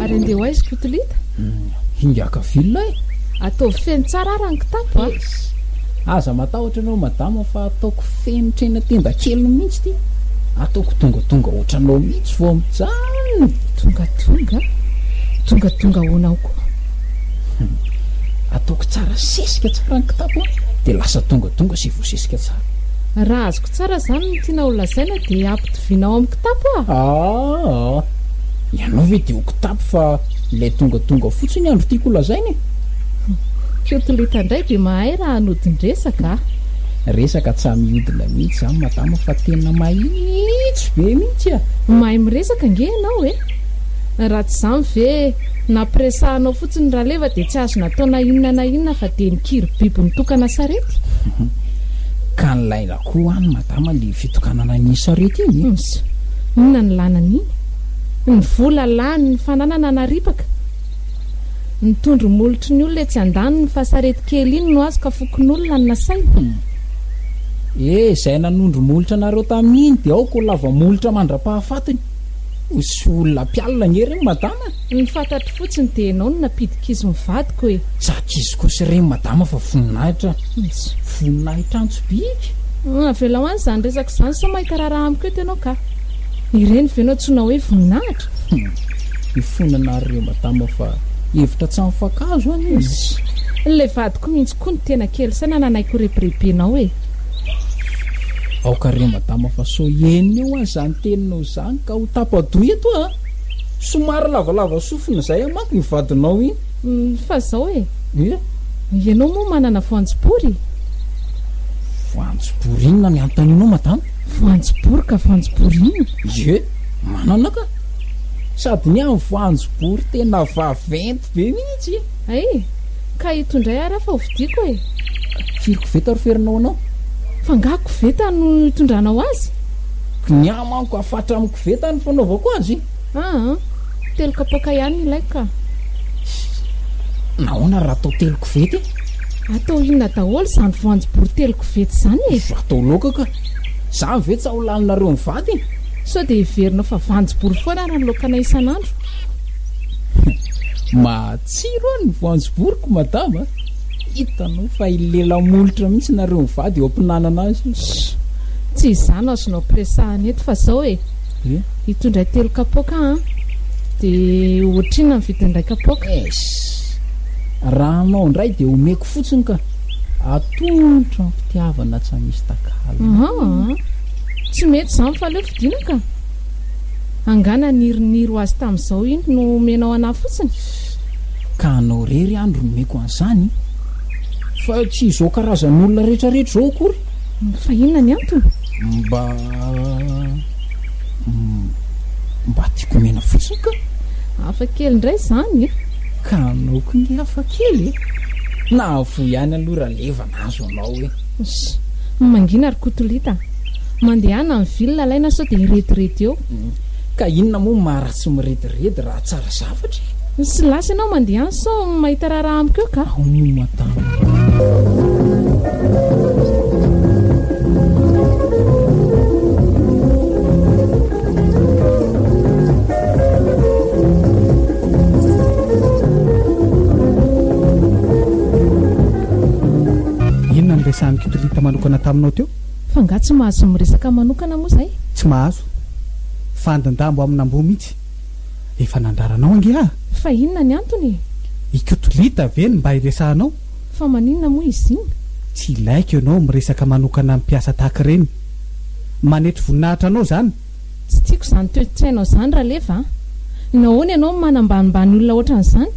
Ary andeha ho aiza Kotolita? Hmm, hingaka villa e. Ataovy feno tsara ara ny kitapo a. Ah. Aza matahotra ianao madama fa ataoko feno trena tenda kely mihitsy ity. Ataoko tongatonga ohatranao mihitsy vao mijanona. Tongatonga? Tongatonga ahoana ao koa? Hum. Ataoko tsara sesika tsara ny kitapo an, dia lasa donga donga sy voasesika tsara. Raha azoko tsara izany no tianao ho lazaina dia ampitoviana ao amin'ny kitapo aho. Aa! Ianao ve dia ho kitapo fa ilay donga donga fotsiny andro tiako ho lazaina e? Kiotolita indray dia mahay raha hanodin-dresaka a! Resaka tsa mihodina mihitsy izany madama fa tena mahitsy be mihitsy a! Mahay miresaka ange ianao e! Raha tsy izany ve Nampiresahanao fotsiny raleva dia tsy azo natao na inona na inona fa dia mikiry biby nitokana sarety. Ka nilaina koa any madama le fitokanana an'iny sarety iny. Ms, inona ny lana an'iny? Ny vola lany, ny fananana naripaka, ny tondro molotry ny olona etsy andaniny fa sarety kely iny no azo ka fokonolona no nasaina. Hm, eh, izay nanondro molotra anareo tamin'iny dia aoka ho lava molotra mandra-pahafatiny. Misy olona mpialona anie reo madama a! Ny fantatro fotsiny dia ianao no nampidi-kizo ny vadiko e! Tsy ankizy kosa ireny madama fa voninahitra Antso. Voninahitra Antso bika! Avelao any izany resaka izany sao mahita raharaha amiko eto ianao kah! Ireny ve no antsoina hoe voninahitra? Hum! Mifona ana ry reo madama fa hevitra tsy amin-fankahazo anie izy! Ilay vadiko mihitsy koa no tena kely saina nanaiky ho rebirebenao e! Aoka re madama fa sao eny eo aza zany teninao izany ka ho tapa-doha eto a! Somary lavalava sofina izay a manko io vadinao iny. Fa izao e! Ie? Ianao moa manana voanjobory? Voanjobory inona ny anontanianao madama? Voanjobory ka voanjobory inona? Ie, manana ka! Sady ny ahy voanjobory tena vaventy be mihitsy e! Hay! Ka ito indray ary aho fa hovidiako e! Firy koveta ry ferinao anao? Fa angaha koveta no itondranao azy? Ny ahy manko afatra amin'ny koveta no fanaovako azy. Aa! Telo kapoaka ihany ilaiko ka! Nahoana raha atao telo koveta e? Atao inona daholo izany voanjobory telo koveta izany e? Atao laoka ka! Izany ve tsy hahalaninareo mivady? Sao dia heverinao fa voanjobory foana ary ny laokanay isan'andro? Mahatsiro an ny voanjoboriko madama a! Hitanao fa i lela molotra mihitsy nareo mivady eo ampinanana azy io. Tsy izany azo no ampiresahana eto fa zao e! Hitondray telo kapoaka an! De ohatrinona ny vidin'ny iray kapoaka? Eish! Raha anao indray de omeko fotsiny ka! Atolotro am-pitiavana tsy hamisy takalony. Ahaa! Tsy mety izany fa aleo fidiana ka! Angaha naniriniry ho azy tamin'izao iny no omenao anah fotsiny? Ka anao rery any ry nomeko an'izany? Fa tsy izao karazan'olona retraretra izao akory? Fa inona ny antony? Mba, mba tiako omena fotsiny ka! Hafa kely indray izany e! Ka anao koa nge hafa kely e! Nahavoa ihany aloha Ralevana. azo anao hoe. Ssy. Mangina ry kotolita a. Mandehana ny ville alaina sao dia hirediredy eo. Ka inona moa ny maha ratsy mirediredy raha tsara zavatra e. Ssy lasa ianao mandeha any sao mahita raharaha amiko eo ka. Ao moa madama. Inona no resahan'i Kitolita manokana taminao teo? Fa nga tsy mahazo miresaka manokana moa zay? Tsy mahazo. Fandindambo amin'amboa mihitsy. Efa nandraranao ange aho. Fa inona ny antony e? I Kitolita ve no mba hiresahanao? Fa maninona moa izy iny? Tsy ilaiko ianao miresaka manokana amin'ny mpiasa tahaka ireny. manetry voninahitra anao zany. Tsy tiako izany toetsainao izany Raleva a! Nahoana ianao manambanimbany olona ohatran'izany?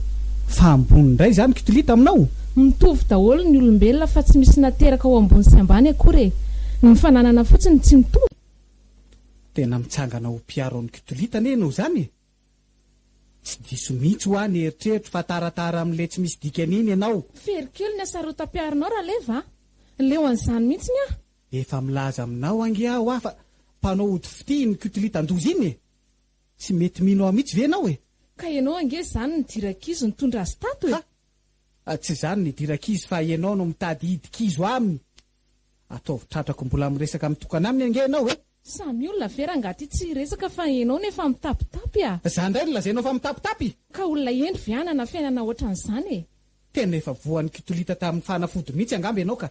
Fa ambony indray izany Kitolita aminao? Mitovy daholo ny olombelona fa tsy misy nateraka ho ambony sy ambany akory e! Ny fananana fotsiny tsy mitovy. Tena mitsangana ho mpiaro an'i Kitolita anie ianao izany e! Tsy diso mihitsy hoa ny eritreritro fa taratara amin'ilay tsy misy dikany iny ianao. Very kely ny hasarotam-piaronao Raleva a! Leo an'izany mihitsy ny ahy. Efa milaza aminao ange aho a fa mpanao ody fitia iny kutilitan-doza iny e! Tsy mety mino aho mihitsy ve ianao e! Ka ianao ange izany nidira kizo nitondra azy tato e! Ha! Tsy izany nidira kizo fa ianao no mitady hihidy kizo aminy! Ataovy tratrako mbola miresaka mitokana aminy ange ianao e! Samy olona ve rangaha ty tsy hiresaka fa ianao no efa mitapitapy a! Za indray no lazainao fa mitapitapy? Ka olona hendry ve hanana fiainana ohatran'izany e! Tena efa voan'ny kutilitan tamin'ny fanafody mihitsy angamba ianao ka!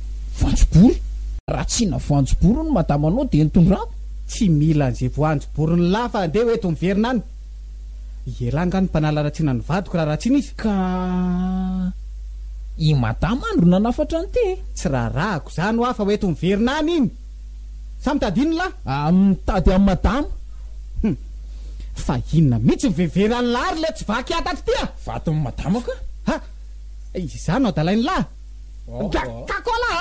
voanjobory. Raha tsy hihina voanjobory hono madama anao dia enton-drano. Tsy mila an'izay voanjoboriny lahy fa andeha ho eto miverina any. Ialahy angaha no mpanala ratsina ny vadiko raha ratsina izy? Ka i madama any ro nanafatra an'ity e! Tsy raharahako izany hoa fa ho eto miverina any iny. Sa mitady inona lahy? Ah, mitady an'i madama. Hum. Fa inona mihitsy no veveran'i lahy ary ilay tsy vaky atatry ity ah! Vadin'i madama ka! Ha! Izany no adalain'i lahy? Gatako alah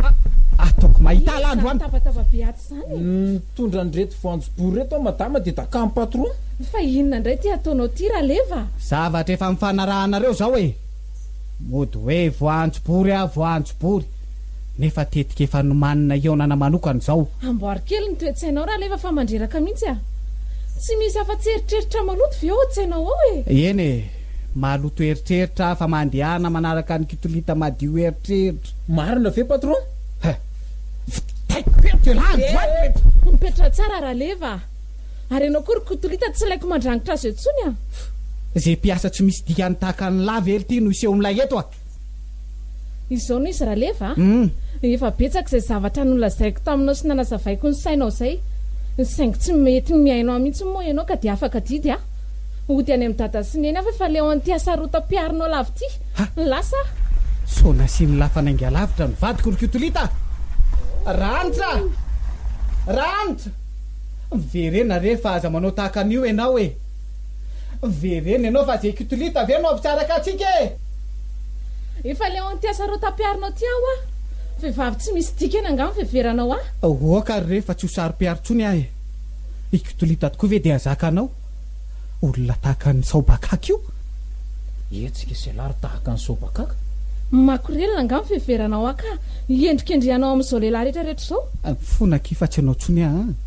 a! Ataoko mahita alah androany. Zany tabataba be atsy zany e! Nitondra an'ireto voanjobory ireto aho madama dia dakan'i patron. Fa inona indray ity ataonao ity raleva a! Zavatra efa nifanarahanareo izao e! Mody hoe voanjobory aho voanjobory nefa tetika efa nomaninay hihaonana manokana izao. Amboary kely ny toe-tsainao raleva fa mandreraka mihitsy a! Tsy misy afa-tsy eritreritra maloto ve ao an-tsainao ao e! Eny e! Maloto eritreritra aho fa mandehana manaraka an'i kitolita madio eritreritra. Marina ve patron? He! Vitaiko be ny tela andro an! He! Mipetraha tsara Raleva a! Ary ianao koa ry kitolita tsy ilaiko mandrangitra azy eo intsony an! Izay mpiasa tsy misy dikany tahaka an'i Lava ery ity no hiseho milay eto a! Izao no izy Raleva a! Efa betsaka izay zavatra nolazaiko taminao sy nanazavaiko ny sainao izay, saingy tsy mety ny mihaino ahy mihitsy moa ianao ka dia afaka didy aho. Hody any amin'i Dada sy Neny aho fa efa leo an'ity hasarotam-piarinao lava ity. Lasa aho. Sao nasian'i Lafa nainga lavitra ny vadiko ry Kotolita? Ranitra! Ranitra! Miverena re fa aza manao tahaka an'io ianao e! Vereno ianao fa zay kitolit ve no hampisaraka antsika e! Efa leo an'ity asarôta ampiharinao ity aho hoa! Vehivavy tsy misy dikany angaha ny fiheveranao ahy? Aoka ary re fa tsy ho saro-piaro intsony aho e! I Kitolita tokoa ve dia zakanao? Olona tahaka an'i Saobakaka io? Hetsika e Sela ry tahaka an'i Saobakaka! Makorelina angaha ny fiheveranao ahy ka hiendrikendrehanao amin'izao lehilahy rehetra rehetra izao? Fona akia fa tsy ianao intsony aho a!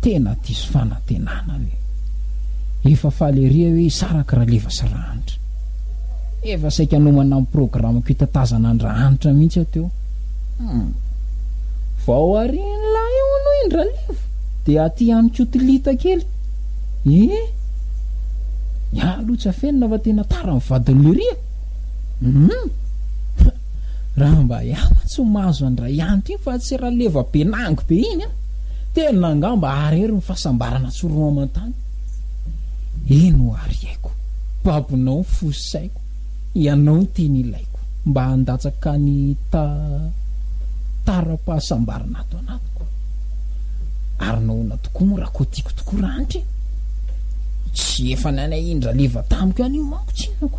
tena diso fanantenana io. Efa faly ery aho hoe hisaraka Raleva sy Rahanitra. Efa saika hanomana amin'ny programako hitatazana an-dRahanitra mihitsy aho teo. Hum. Vao arin'ilay eo aloha iny Raleva dia aty ihany koa tilita kely. Eh? Ny ahy aloha tsy afenina fa tena tara ny vadin'i Lyria. Hum. Raha mba iah mantsy mahazo an'i Rayanty iny fa tsy Raleva Benangy be iny an! Tena angamba arery ny fahasambarana tsy roa aman-tany. Eny o ary aiko, babonao ny fo sy saiko, ianao ny teny ilaiko mba handatsaka ny ta taram-pahasambarana ato anatiko. Ary nahoana tokoa moa raha koa tiako tokoa rahanitra e? Tsy efa nanahiny Raleva tamiko ihany io manko tsinona ko.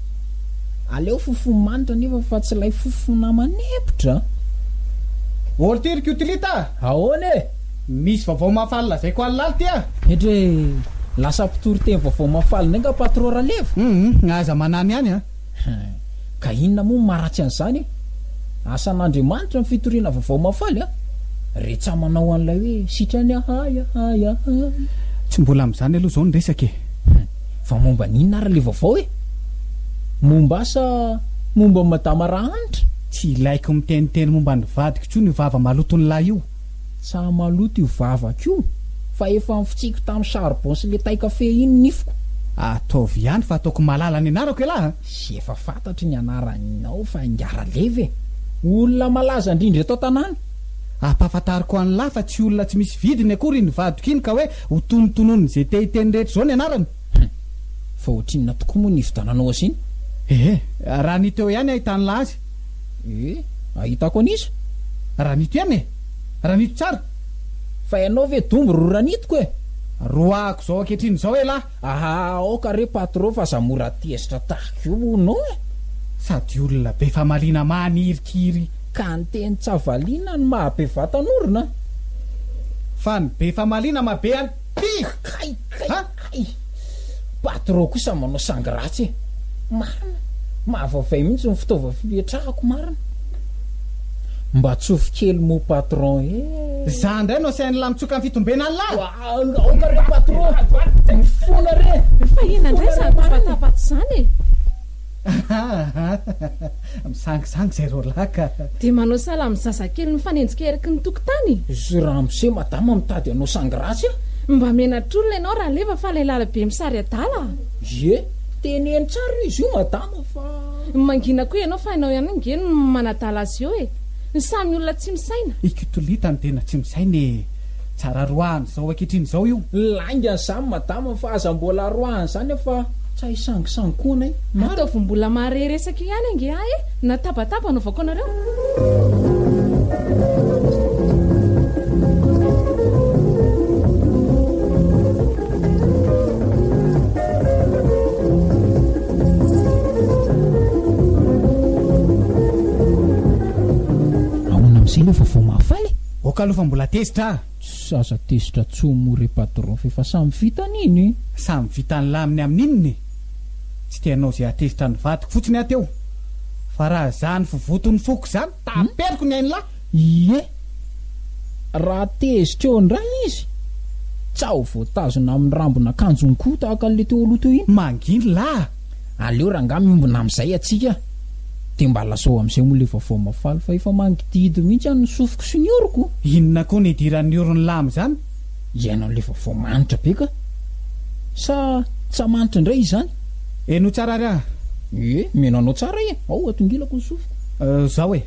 Aleo fofo manitra nefa fa tsy ilay fofona manepotra a! Ortir Cutlita a! Ahoana e! Misy vaovao mahafaly lazaiko alina alina ty a! Hetra e! Lasa mpitory teny vaovao mahafaly indray nga Patro Ralevo? Hum, aza manamy any a! Ka inona moa no maharatsy an'izany e! Asan'Andriamanitra ny fitoriana vaovao mahafaly a! Reheca manao an'ilay hoe sitrany ahay ahay ahay. Tsy mbola amin'izany aloha izao ny resaka e! Fa momba an'inona ary le vaovao e? Momba ahy sa momba an'i Madama Rahanitra? Tsy ilaiko miteniteny momba ny vadiko intsony io vava maloton'lahy io. Tsa maloto io vavako io fa efa nfitsiko tamin'ny charbon sy le taikafe iny ny nifiko. Ataovy ihany fa ataoko malala ny anarako elah a! Sy efa fantatro ny anaranao fa Ingaraleva e! Olona malaza indrindra eto an-tanàna. Ampahafantariko an'lah fa tsy olona tsy misy vidiny akory iny vadiko iny ka hoe Ho tonotonony ze te hiteny rehetra zao ny anarany. Hum. Fa ohatrinona tokoa moa ny nividiananao azy iny? Ehe. Raha ny teo ihany ahitanla azy. Ee. Ahitako an'iza? Raha nito ihany e! Raha nito tsara. Fa ianao ve dombo ry ranitiko e! Roahako zao ankehitriny zao elah. Aha aoka re patro fa za mora tezitra tahaka io hono e! Sady olona be famaliana manirikiry. Ka ny teny tsy avaliana no maha be vatan'orona? Fa ny be famaliana maha be an ty! Kay kay kay! Patro kosa manao sangy ratsy e! Marina, mahavaivay mihitsy ny fitaova fipetrahako marina! Mba tsofy kely moa patron e! Za ndray no asain'lah mitsoka ny fitombenan'lah! Aoka re patro mifona re. Fa inona indray izany tabataba tsy izany e? Ahahaha, misangisangy izay roalahy ka. Dia manao sahala amin'ny zazakely mifanenjika eriky ny tokotany. Zy ramose madama mitady hanao sangy ratsy a! Mba menatr'olona ianao Raleva fa ilay lalabe misary adala a! Ie, teneno tsara hoe izy io madama fa. Mangina koa ianao fa ianao ihany ange no manadala azy eo e! Samy olona tsy misaina. Ikitolitany tena tsy misaina e! Tsara roahany zao ankehitriny zao io. Lainga an'izany madama fa aza mbola roahany izany aho fa tsy hay sangisangy koa anay. Ataovy mbola mahare resaka eo ihany ange ahy e! Na tabataba anaovako anareo. Ok aloha fa mbola tezitra ah. Tsy aza tezitra tsony moa re patron f'efa samy vita an'iny. Samy vita ny laminy amin'inona e! Tsy te hanao izay hahatezitra ny vadiko fotsiny aho teo. Fa raha izany vovoton'ny foko izany, taperiko ny ain'lah! Ie! Raha tezitra eo indray izy, tsa ho voatazona amin'ny rambon'akanjony koa tahaka an'ilay teo aloha teo iny. Manginy lah! aleo rangah miombona amizay atsika de mba lasao amizay moa le vaovao mafaly fa efa mangidihidy mihitsy any ny sofiko sy ny oroko. Inona koa ny idiran'ny oron'i Lama izany? Ianao le vaovao manitra be ka! Sa tsa manitra indray izany? Heno tsara ary aho. Ie, miheno anao tsara e! Ao, atongilako ny sofiko. Euh, zao e!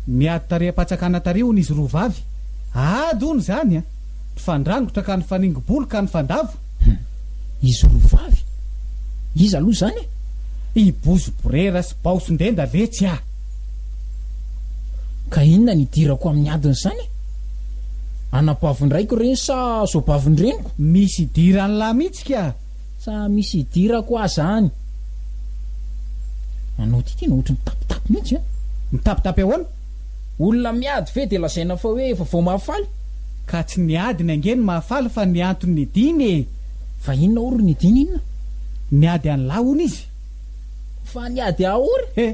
Niady tareham-patsakana tary hono izy roa vavy. Ady hono izany an! Nifandrangotra ka nifaningo-bolo ka nifandavo. Hum. Izy roa vavy? Iza aloha zany e? I Bozo borera sy Baosondenda ve tsy ah. Ka inona ny idirako amin'ny adiny zany e? Anabavin-draiko ireny sa zoabavin-dreniko? Misy idiran'lah mihitsy ka! Sa misy idirako ah zany? Anao ty tena ohatry mitapitapy mihitsy an! Mitapitapy ahoana? Olona miady ve dia lazaina fa hoe efa vao mahafaly? Ka tsy ny adiny ange no mahafaly fa ny antony nidiny e! Fa inona ory nidiny inona? Niady an'lah hono izy. Fa niady ahory? He!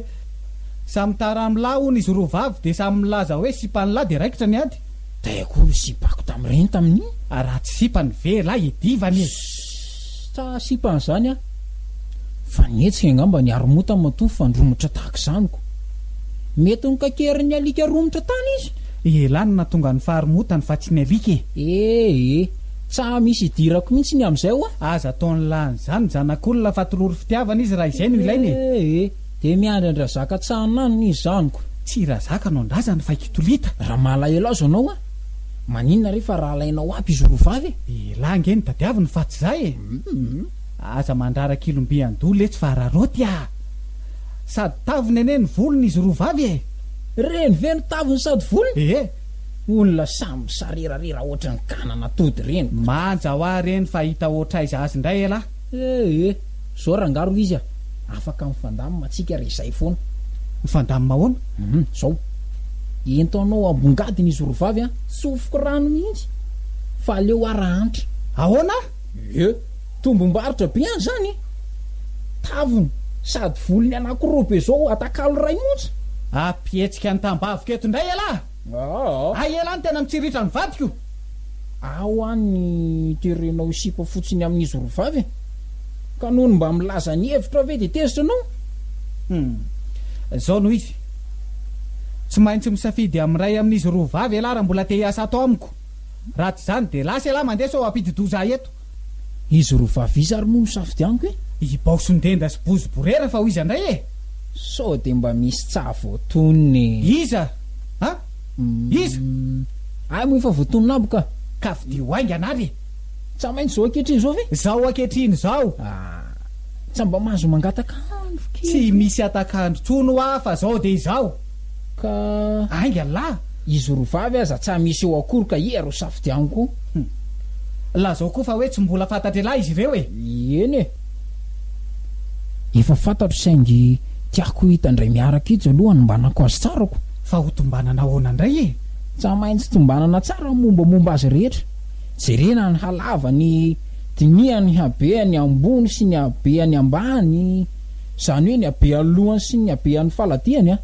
Samy tara amin'lah hono izy roa vavy dia samy milaza hoe sipan'lah dia raikitra ny ady. Tay akory ny sipako tamin'ireny tamin'iny? Raha tsy sipany ve elah iadivany e! Sa sipa an'izany an? Fa nihetsika angamba ny haromota matoa fandromotra tahaka izany ko! Mety nokakerin'ny alika romotra tany izy? Elah no nahatonga ny faharomotany fa tsy ny alika e! Eh eh! Tsa misy idirako mihitsy ny amin'izay hoa! Aza ataon'lah an'izany ny zanak'olona fa tolory fitiavana izy raha izay no ilaina e! Eh eh! Dia miandry an-dRazaka Tsa ananona izy izany ko! Tsy i Razaka no an-drazany fa i Kitolita! Raha malahelo azy ianao an! Maninona re fa rahalainao aby izy roa vavy e? Elah nge no tadiaviny fa tsy zah e! Aza mandrara kilomby an-doha letsy fa raraoty ah! Sady taviny anie ny volony izy roa vavy e! Reny ve no taviny sady volony? Ee! Olona samy misarerarera ohatran'ny kanana tody reniko. Manja hoa reny fa hita ohatraiza azy ndray elah! Eh eh, zao rangah ro izy a! Afaka mifandamina antsika re zay foana. Mifandamina ahoana? Hum, zao. Ento anao ambongadiny izy roa vavy a! Tsofiko rano mihitsy fa aleo aho raha antra. Ahoana? Eh, tombom-barotra be any zany e! Tavony sady volony anakiroa be zao atakalo iray monja. Ampihetsika ny tambaviko eto indray ialahy! Aa! Hay elah ny tena mitsiritra ny vadiko! Aa ho an ny terenao sipa fotsiny amin ny zorovavy e! Ka noho ny mba milaza ny hevitrao ve dia tezitra anao? Hum! Zao no izy! Tsy maintsy misafidy amin ny iray amin izy roa vavy elah raha mbola te hiasa ato amiko! Raha tsy izany dia lasa elah mandeha sao hampidi-doza ahy eto! Izy roa vavy iza ary moa no safidianiko e? I Baosondenda sy Bozoborera fa ho iza indray e? Sao dia mba misy tsaha voatonona e? Iza? A? Iza? Hay moa efa voatonona aby ka! Ka vidio haingana ary e! Tsa maintsy izao ankehitriny izao ve? Izao ankehitriny izao! A! Tsa mba mahazo mangataka andro kely? Tsy misy hatak'andro tsony hoa fa izao dia izao! ka. Ainga lahy hizoro vavy aza tsa misy eo akory ka ia ro safidiano ko. Hum. Lazao koa fa hoe tsy mbola fantatr'elah izy ireo e! Eny e! Efa fantatro saingy tiako hita ndray miaraka itsy aloha hanombanako azy tsara ko. Fa ho tombanana ahoana ndray e? Tsa maintsy tombanana tsara ny mombamomba azy rehetra. Jerena ny halavany, dinihany ny habeany ambony sy ny habeany ambany. Zany hoe ny habean'ny lohany sy ny habean'ny faladiany a!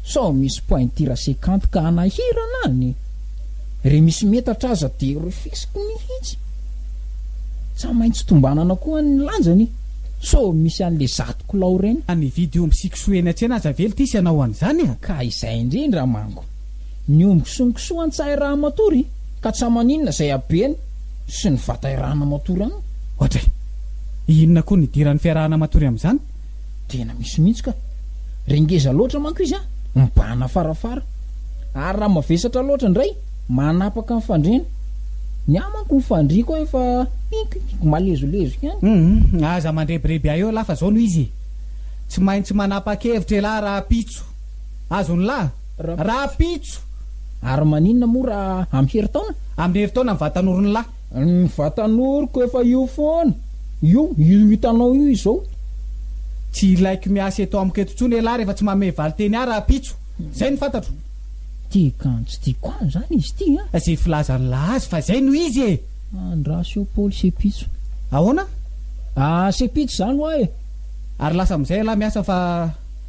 Sao misy pointira sekanty ka hanahirana any? Re misy metatra aza dia refesiko mihitsy! Tsa maintsy tombanana koa ny lanjany so misy an'le zato kilao reny. Fa nividy omby sy kisoa eny an-tsena aza ve ltisy ianao an'izany a! Ka izay indrindra manko! ny omby sy ny kisoa an tsy hahay raha matory ka tsa maninona izay habeny sy ny vatay raha na matory an. Ohatray. Inona koa ny idiran'ny fiarahana matory amin'izany? Tena misy mihitsy ka. Re ngeza loatra manko izy an, mibahana farafara. Ary raha mavesatra loatra indray, manapaka ny fandriana. Ny ahy manko ny fandriako an efa pinkipink malezolezo ihany. Humm aza mandrebireby ahy eo lahy fa zao no izy e. Tsy maintsy manapakevitra elah raha pitso. Azonlah? Rahampitso! Ary maninona moa raha amin'ny herintaona? Amin'ny herintaona ny vatanorony lahy. Ny vatanoroko efa io foana. Io, io hitanao io izao. Tsy ilaiko miasa eto amiko eto intsony ialahy rehefa tsy manome valin-teny ahy rahampitso. Izay no fantatro. Tia kanjo tia koa izany izy ity an! Izay filazan'ny lahy azy fa izay no izy e! Andraso eo Paoly sy Epitso. Ahoana? Asa Epitso izany hoa e! Ary lasa amin'izay ialahy miasa fa.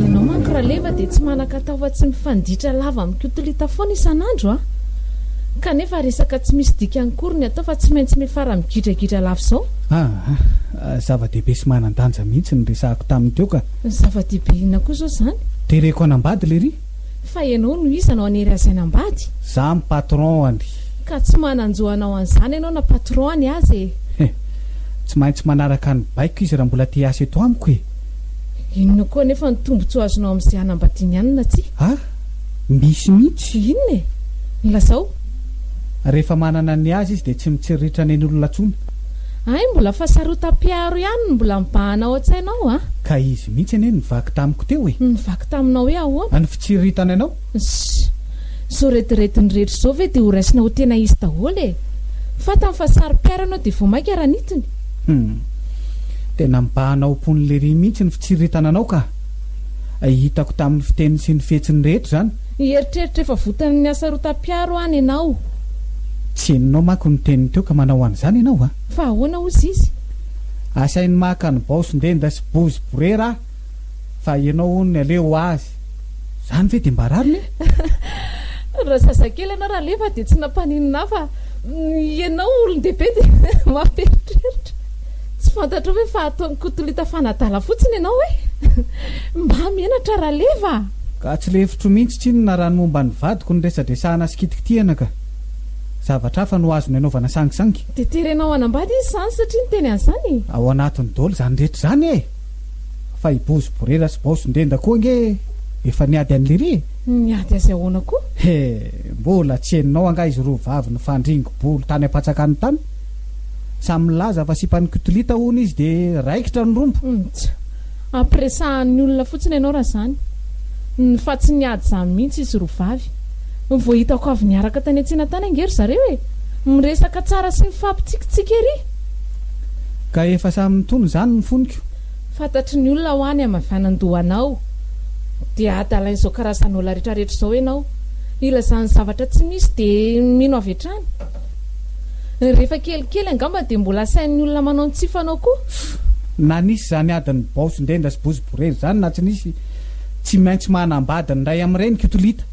Ianao manko Raleva dia tsy manan-katao fa tsy mifanditra lava amin'ny kotolita foana isan'andro an! Kanefa resaka tsy misy dikany akory ny atao fa tsy maintsy miafara migidragidra lava izao. Aa! Zava-dehibe sy manan-danja mihitsy ny resahako taminy teo ka! Zava-dehibe inona koa izao izany? Tereko hanambady lery! Fa ianao no iza no hanery azy hanambady? Za ny patron any. Ka tsy manan-jo hanao an'izany ianao na patron any aza e! He! Tsy maintsy manaraka ny baiko izy raha mbola te hiasa eto amiko e! Inona koa anefa ny tombotsoa azonao amin'izay hanambadiany ihany na tsia? Ha? Misy mihitsy! Inona e? Lazao! Rehefa manana ny azy izy dia tsy mitsiriritra nen'olona intsony. Hay mbola fa sarotam-piaro ihany no mbola mibahana ao an-tsaina ao an! Ka izy mihitsy anie nivaky tamiko teo e! Nivaky taminao hoe ahoana? Ny fitsiriritany anao? Ssss! Izao redirediny rehetra izao ve dia ho raisina ho tena izy daholo e! Fantany fa sarom-piaro ianao dia vao mainka ranitiny! Hum! Tena mibahana ao am-pon'i Lery mihitsy ny fitsiriritana anao ka! Hitako tamin'ny fiteniny sy ny fihetsiny rehetra izany! Hieritreritra efa votan'ny hasarotam-piaro any ianao. Tsy henonao manko ny teniny teo ka manao an'izany ianao a! Fa ahoana hozy izy? Asainy maka ny baosin-denda sy bozy borera aho fa ianao hono aleo ho azy. Izany ve dia mba rariny e? Raha zazakely ianao Ralefa dia tsy nampaninona ahy fa ianao olon-dehibe dia mampieritreritra. Tsy fantatrao ve fa ataon'i Kotolita fanadala fotsiny ianao hoe mba menatra Raleva a! Ka tsy lefitro mihitsy tsinona raha ny momba an'i vadiko no resadresahana sy kitikitihana ka! Zavatra hafa no azony anaovana sangisangy. Dia terenao hanambady izy izany satria niteny an'izany e! Ao anatin'ny dol izany rehetra izany e! Fa i Bozy Borera sy Baosy Ndenda koa ange efa niady an'i Liri e! Niady azy ahoana koa? He! Mbola tsy henonao angaha izy roa vavy nifandringo bolo tany am-patsakany tany? Samy milaza fa sipan'ny kotolita hono izy dia raikitra ny rombo. Nts. Ampiresahan'ny olona fotsiny ianao raha izany. Ny fa tsy niady izany mihitsy izy roa vavy. Vao hitako avy niaraka tany an-tsena tany ange ry zareo e! Miresaka tsara sy mifampitsikitsiky ery. Ka efa samy nitony izany ny foniko. Fantatry ny olona hoa ny hamavanandoha anao. Dia adalain'izao karazan'olona retraretra izao ianao. Ilazany zavatra tsy misy dia mino avy hatrany. Rehefa kelikely angamba dia mbola asain'ny olona manao ny tsy fanao koa. Na nisy izany adin'ny baosin-denda sy boziborera izany na tsy nisy, tsy maintsy manambady ny iray amin'ireny Kytolita.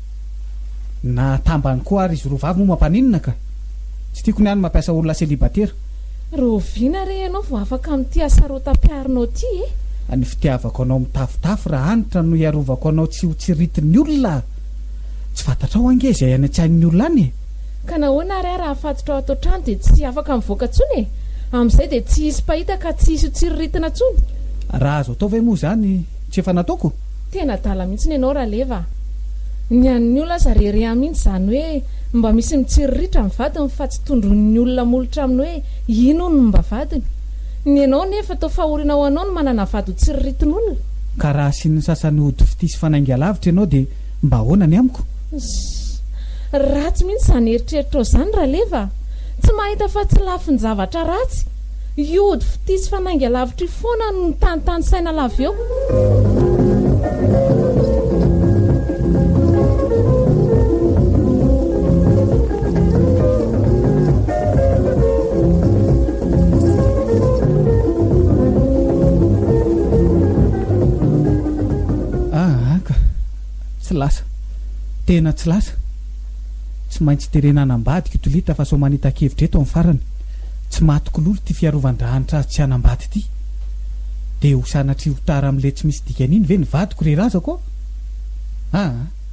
Na tambany koa ary izy roa vavy moa mampaninona ka! Tsy tiako ny ahy ny mampiasa olona selibatera. Rahoviana re ianao vao afaka amin'ity hasarotam-piarinao ity e? Ny fitiavako anao mitafotafo ra Hanitra no hiarovako anao tsy ho tsiritin'ny olona. Tsy fantatrao ange izay any an-tsain'ny olona any e? Ka nahoana ary aho raha afatotra ao atoan-trano dia tsy afaka mivoaka intsony e? Amin'izay dia tsy hisy mpahita ka tsy hisy ho tsiriritina intsony. Raha azo atao ve moa izany tsy efa nataoko? Tena adala mihitsy ny anao Raleva a! Ny an'ny olona aza re re ahy mihitsy izany hoe mba misy mitsiriritra ny vadiny fa tsy tondroin'ny olona molotra aminy hoe ino hono ny mba vadiny. Ny anao anefa toa fahoriana ho anao ny manana vady ho tsiriritin'olona? Ka raha asian'ny sasany ody fitia sy fanainga lavitra ianao dia Mba ahoana ny amiko? Zzz, ratsy mihitsy izany eritreritrao izany Ralefa a! Tsy mahita fa tsy lafin-javatra ratsy? Io ody fitia sy fanainga lavitra io foana no mitanitany saina lava eo. Ahaka! Tsy lasa. Tena tsy lasa. Tsy maintsy terena any ambady ky Tolita fa sao manita-kevitra eto amin'ny farany. Tsy maty kololo ity fiarovan-drahanitra azy tsy hanambady ity. Dia ho sanatria ho tara amin'ilay tsy misy dikany iny ve ny vadiko ry razako ô? Aa!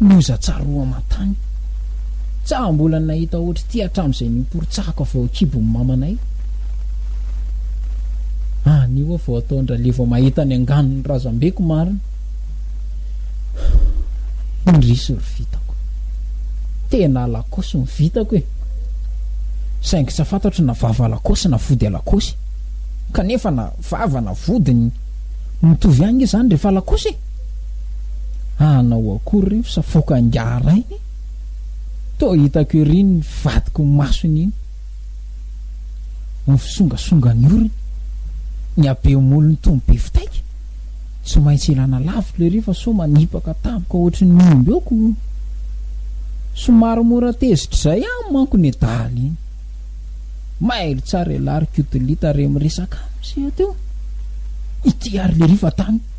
Loza tsaroa aman-tany. Tsa mbola nahita ohatr'ity hatramin'izay niporontsahako avy ao an-kibon'i mamanay. Anio aho vao atao an-dRalie vao mahita ny anganon'ny razambeko marina. Indrisy ry vitako. Tena alakaosy ny vitako e. Saingy tsa fantatro na vava alakaosy na vody alakaosy. Kanefa na vava na vody ny mitovy ihany izany rehefa alakaosy e. Hanao akory ry fa foka angaha rainy e? Toa hitako ery iny vadiko ny masony iny. Ny fisongasonga ny orony, ny habeam-olony toa ny be fitaika. Tsy maintsy ilana lavitra ery fa sao manipaka tampoka ohatry ny omby eo ko. Somary mora tezitra izay aminy manko ny dahalo iny. Mailo tsara ialahy ry Kotolita re miresaka aminy seha teo. Ity ary lery fa tany.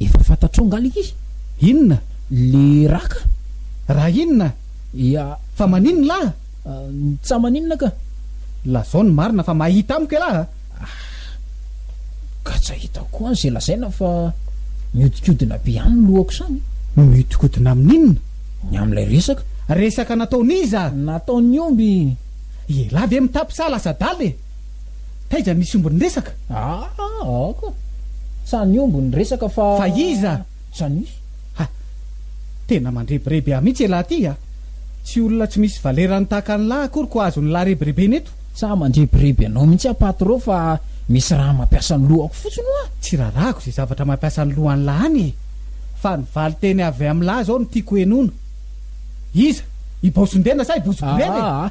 Efa fantatrao nga le izy? Inona? Le ra ka? Ra inona? Ia, fa maninona lah a? Tsa maninona ka. Lazao ny marina fa mahita amiko elah a! Ah! Ka tsa hitako koa ze lazaina fa miodikodina be any ny lohako zany. Miodikodina amin'inona? Ny amin'ilay resaka. Resaka nataon'iza? Nataon'ny omby. Ialahy ve mitapy sa lasa adala e? Taiza misy omby niresaka? Aa aoka! Sa ny omby niresaka fa. Fa iza? Sa ny. Ha! Tena mandrebireby ahy mihitsy elah ty a! Tsy olona tsy misy valerany tahaka an'lah akory ko azon'ny lah rebirebena eto! Sa mandrebireby anao mihitsy aho patro fa misy raha mampiasa ny lohako fotsiny hoa! Tsy rarahako izay zavatra mampiasa ny lohan'lah any e! Fa ny valinteny avy amin'lah izao no tiako henoina! Iza? I Baosondena sa i Bozoborena e? Aa!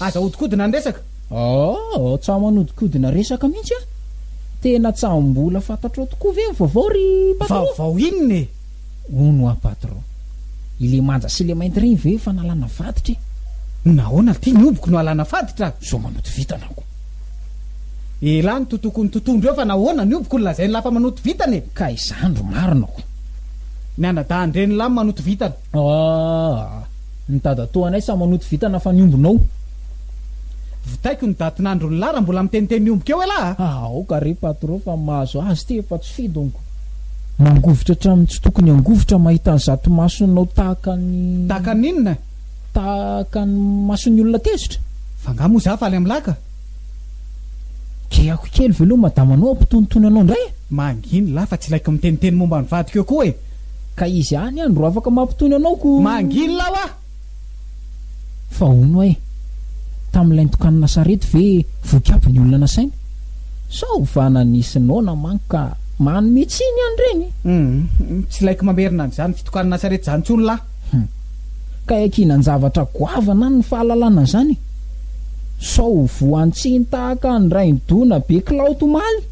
Aza ahodikodina ny resaka. Aoh, tsaho manodikodina resaka mihitsy an! Tena tsahom-bola fantatrao tokoa ve ny vaovao ry patron? Vaovao inona e? Hono hoa patron, ilay manja sy ilay mainty ireny ve efa nalana vaditra e? Nahoana ity ny obiko no alana faditra? Zao manoto vintana aho ko! Elah ny totoko ny totohondry eo fa nahoana ny obiko no lazain'lah fa manoto vintana e? Ka izany ro marina ko! Ny anadahin-dren'lah no manoto vintana. Aah! Ny dadatoanay sa manoto vitana fa ny ombinao. Vitaiko ny daty nandron'i la raha mbola miteniteny omby keo elah a! Ah, aoka re patro fa mahazo azy ty efa tsy fidonko. Mangovitra hatramin'ny tsy tokony hangovitra mahita an'izato masonao tahaka ny. Tahaka ny inona? Tahaka ny mason'ny olona tezitra. F'angaha moa za faly amin'la ka? Kehako kely veloma madama anao hampitonitony anao indray e! Manginy la fa tsy ilaiko miteniteny momba ny vadiko eo koa e! Ka izy any ihany ro afaka mampitony anao ko. Mangina aho ah! Fa hono oay, tamin'ilay nitokanana sarety ve voky aby ny olona nasaina? Sao ovana nisy noana manko ka manome tsiny ihany ireny? Hum, tsy laiko mamerina an'izany fitokanana sarety izany intsony lah. Hum, ka iankinan-javatra goavana any ny fahalalana an'izany e! Sao ho voan-tsiny tahaka ny rain-doha nabe kilaoty omaly?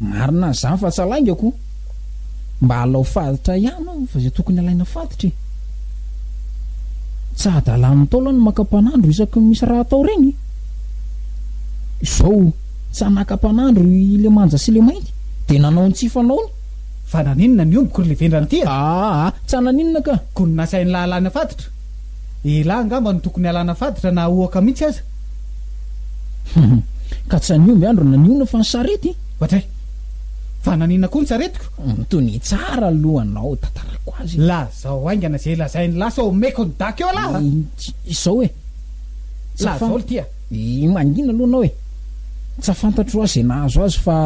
Marina zany fa tsa lainga ko mba alao faditra ihany ao fa zay tokony alaina faditra e. Tsa adalan'ny Ntaolo ny maka mpanandro isaky ny misy raha atao reny. Zao tsa naka mpanandro i le manja sy le mainty de nanao ny tsy fanaony. Fa naninona ny ombiko ry le vendrana ty a. Aa tsa naninona ka. Ko ny nasainy lahalana faditra. Elah angamba no tokony alana faditra na aohaka mihitsy aza. Hum. Ka tsy an'ny omby andro naniona fa ny sarety? Ohatray. Fa naniana koa ny saretiko? Hum. Tony tsara aloha anao, tantarako azy. Lazao haingana izay lazain'i lah sao omeko ny dac eo alah a! Izao e. Lazao ry tia. Yy mangina aloha anao e. Tsy afantatro aho izay nahazo azy fa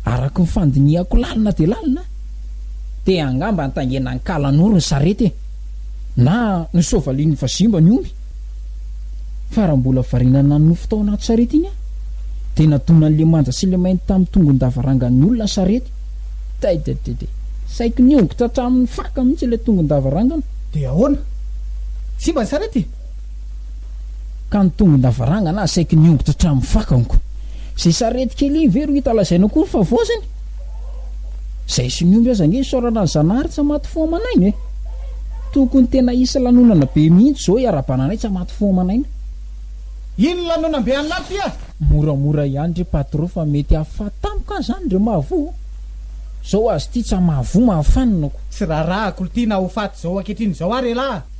araka ny fandinihako lalina dia lalina dia angamba nitaingena an-kalanoro ny sarety e. na ny soavalin'ny vazimba ny omby fa raha mbola variana nanonofy tao anaty sarety iny aho dia nadonany le manja sy le mainty tamin'ny tongon-davarangan'ny olona sarety taidedede saiky niongotra hatramin'ny faka mihitsy ilay tongon-davarangana dia ahoana simba ny sarety ka ny tongon-davarangana aho saiky niongotra hatramin'ny faka onko izay sarety kely iny ve ro hita lazaina koa ny favoazany Zay sy ny omby aza nge isaorana an'i Zanahary tsa maty fo aman'aina e! Tokony tena hisy lanonana be mihintsy zao iarabananay tsa maty fo aman'aina. Ino lanonam be anla ty a? Moramora ihany re patro fa mety hahafaty tampoka aza any re mahavoa o! Zao azy ty tsa mahavoa mahafanina ko! Tsy raharahako lty na ho faty zao ankehitriny zao ary elah a!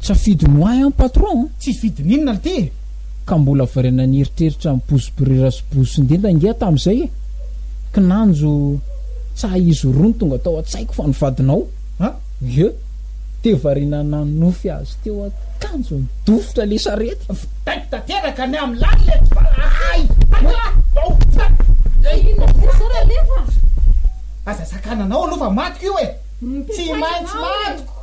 Tsy afidiny ho ahy an patron an. Tsy fidiny inona lty e. Ka mbola variana nieritreritra ny bozy birera sy bozy sindenda ange aho tamin'izay e! Kinanjo tsaha izy roa no tonga tao an-tsaiko fa ny vadinao an! Vieux! Dia variana nanonofy azy teo an-kanjo nidofotra ilay sarety. Vitaiko tanteraka ny amin'ny lalina eto fa ahay! Hay! Inona ve izao Ralefa? Aza sakananao aloha fa matiko io e! Tsy maintsy matiko!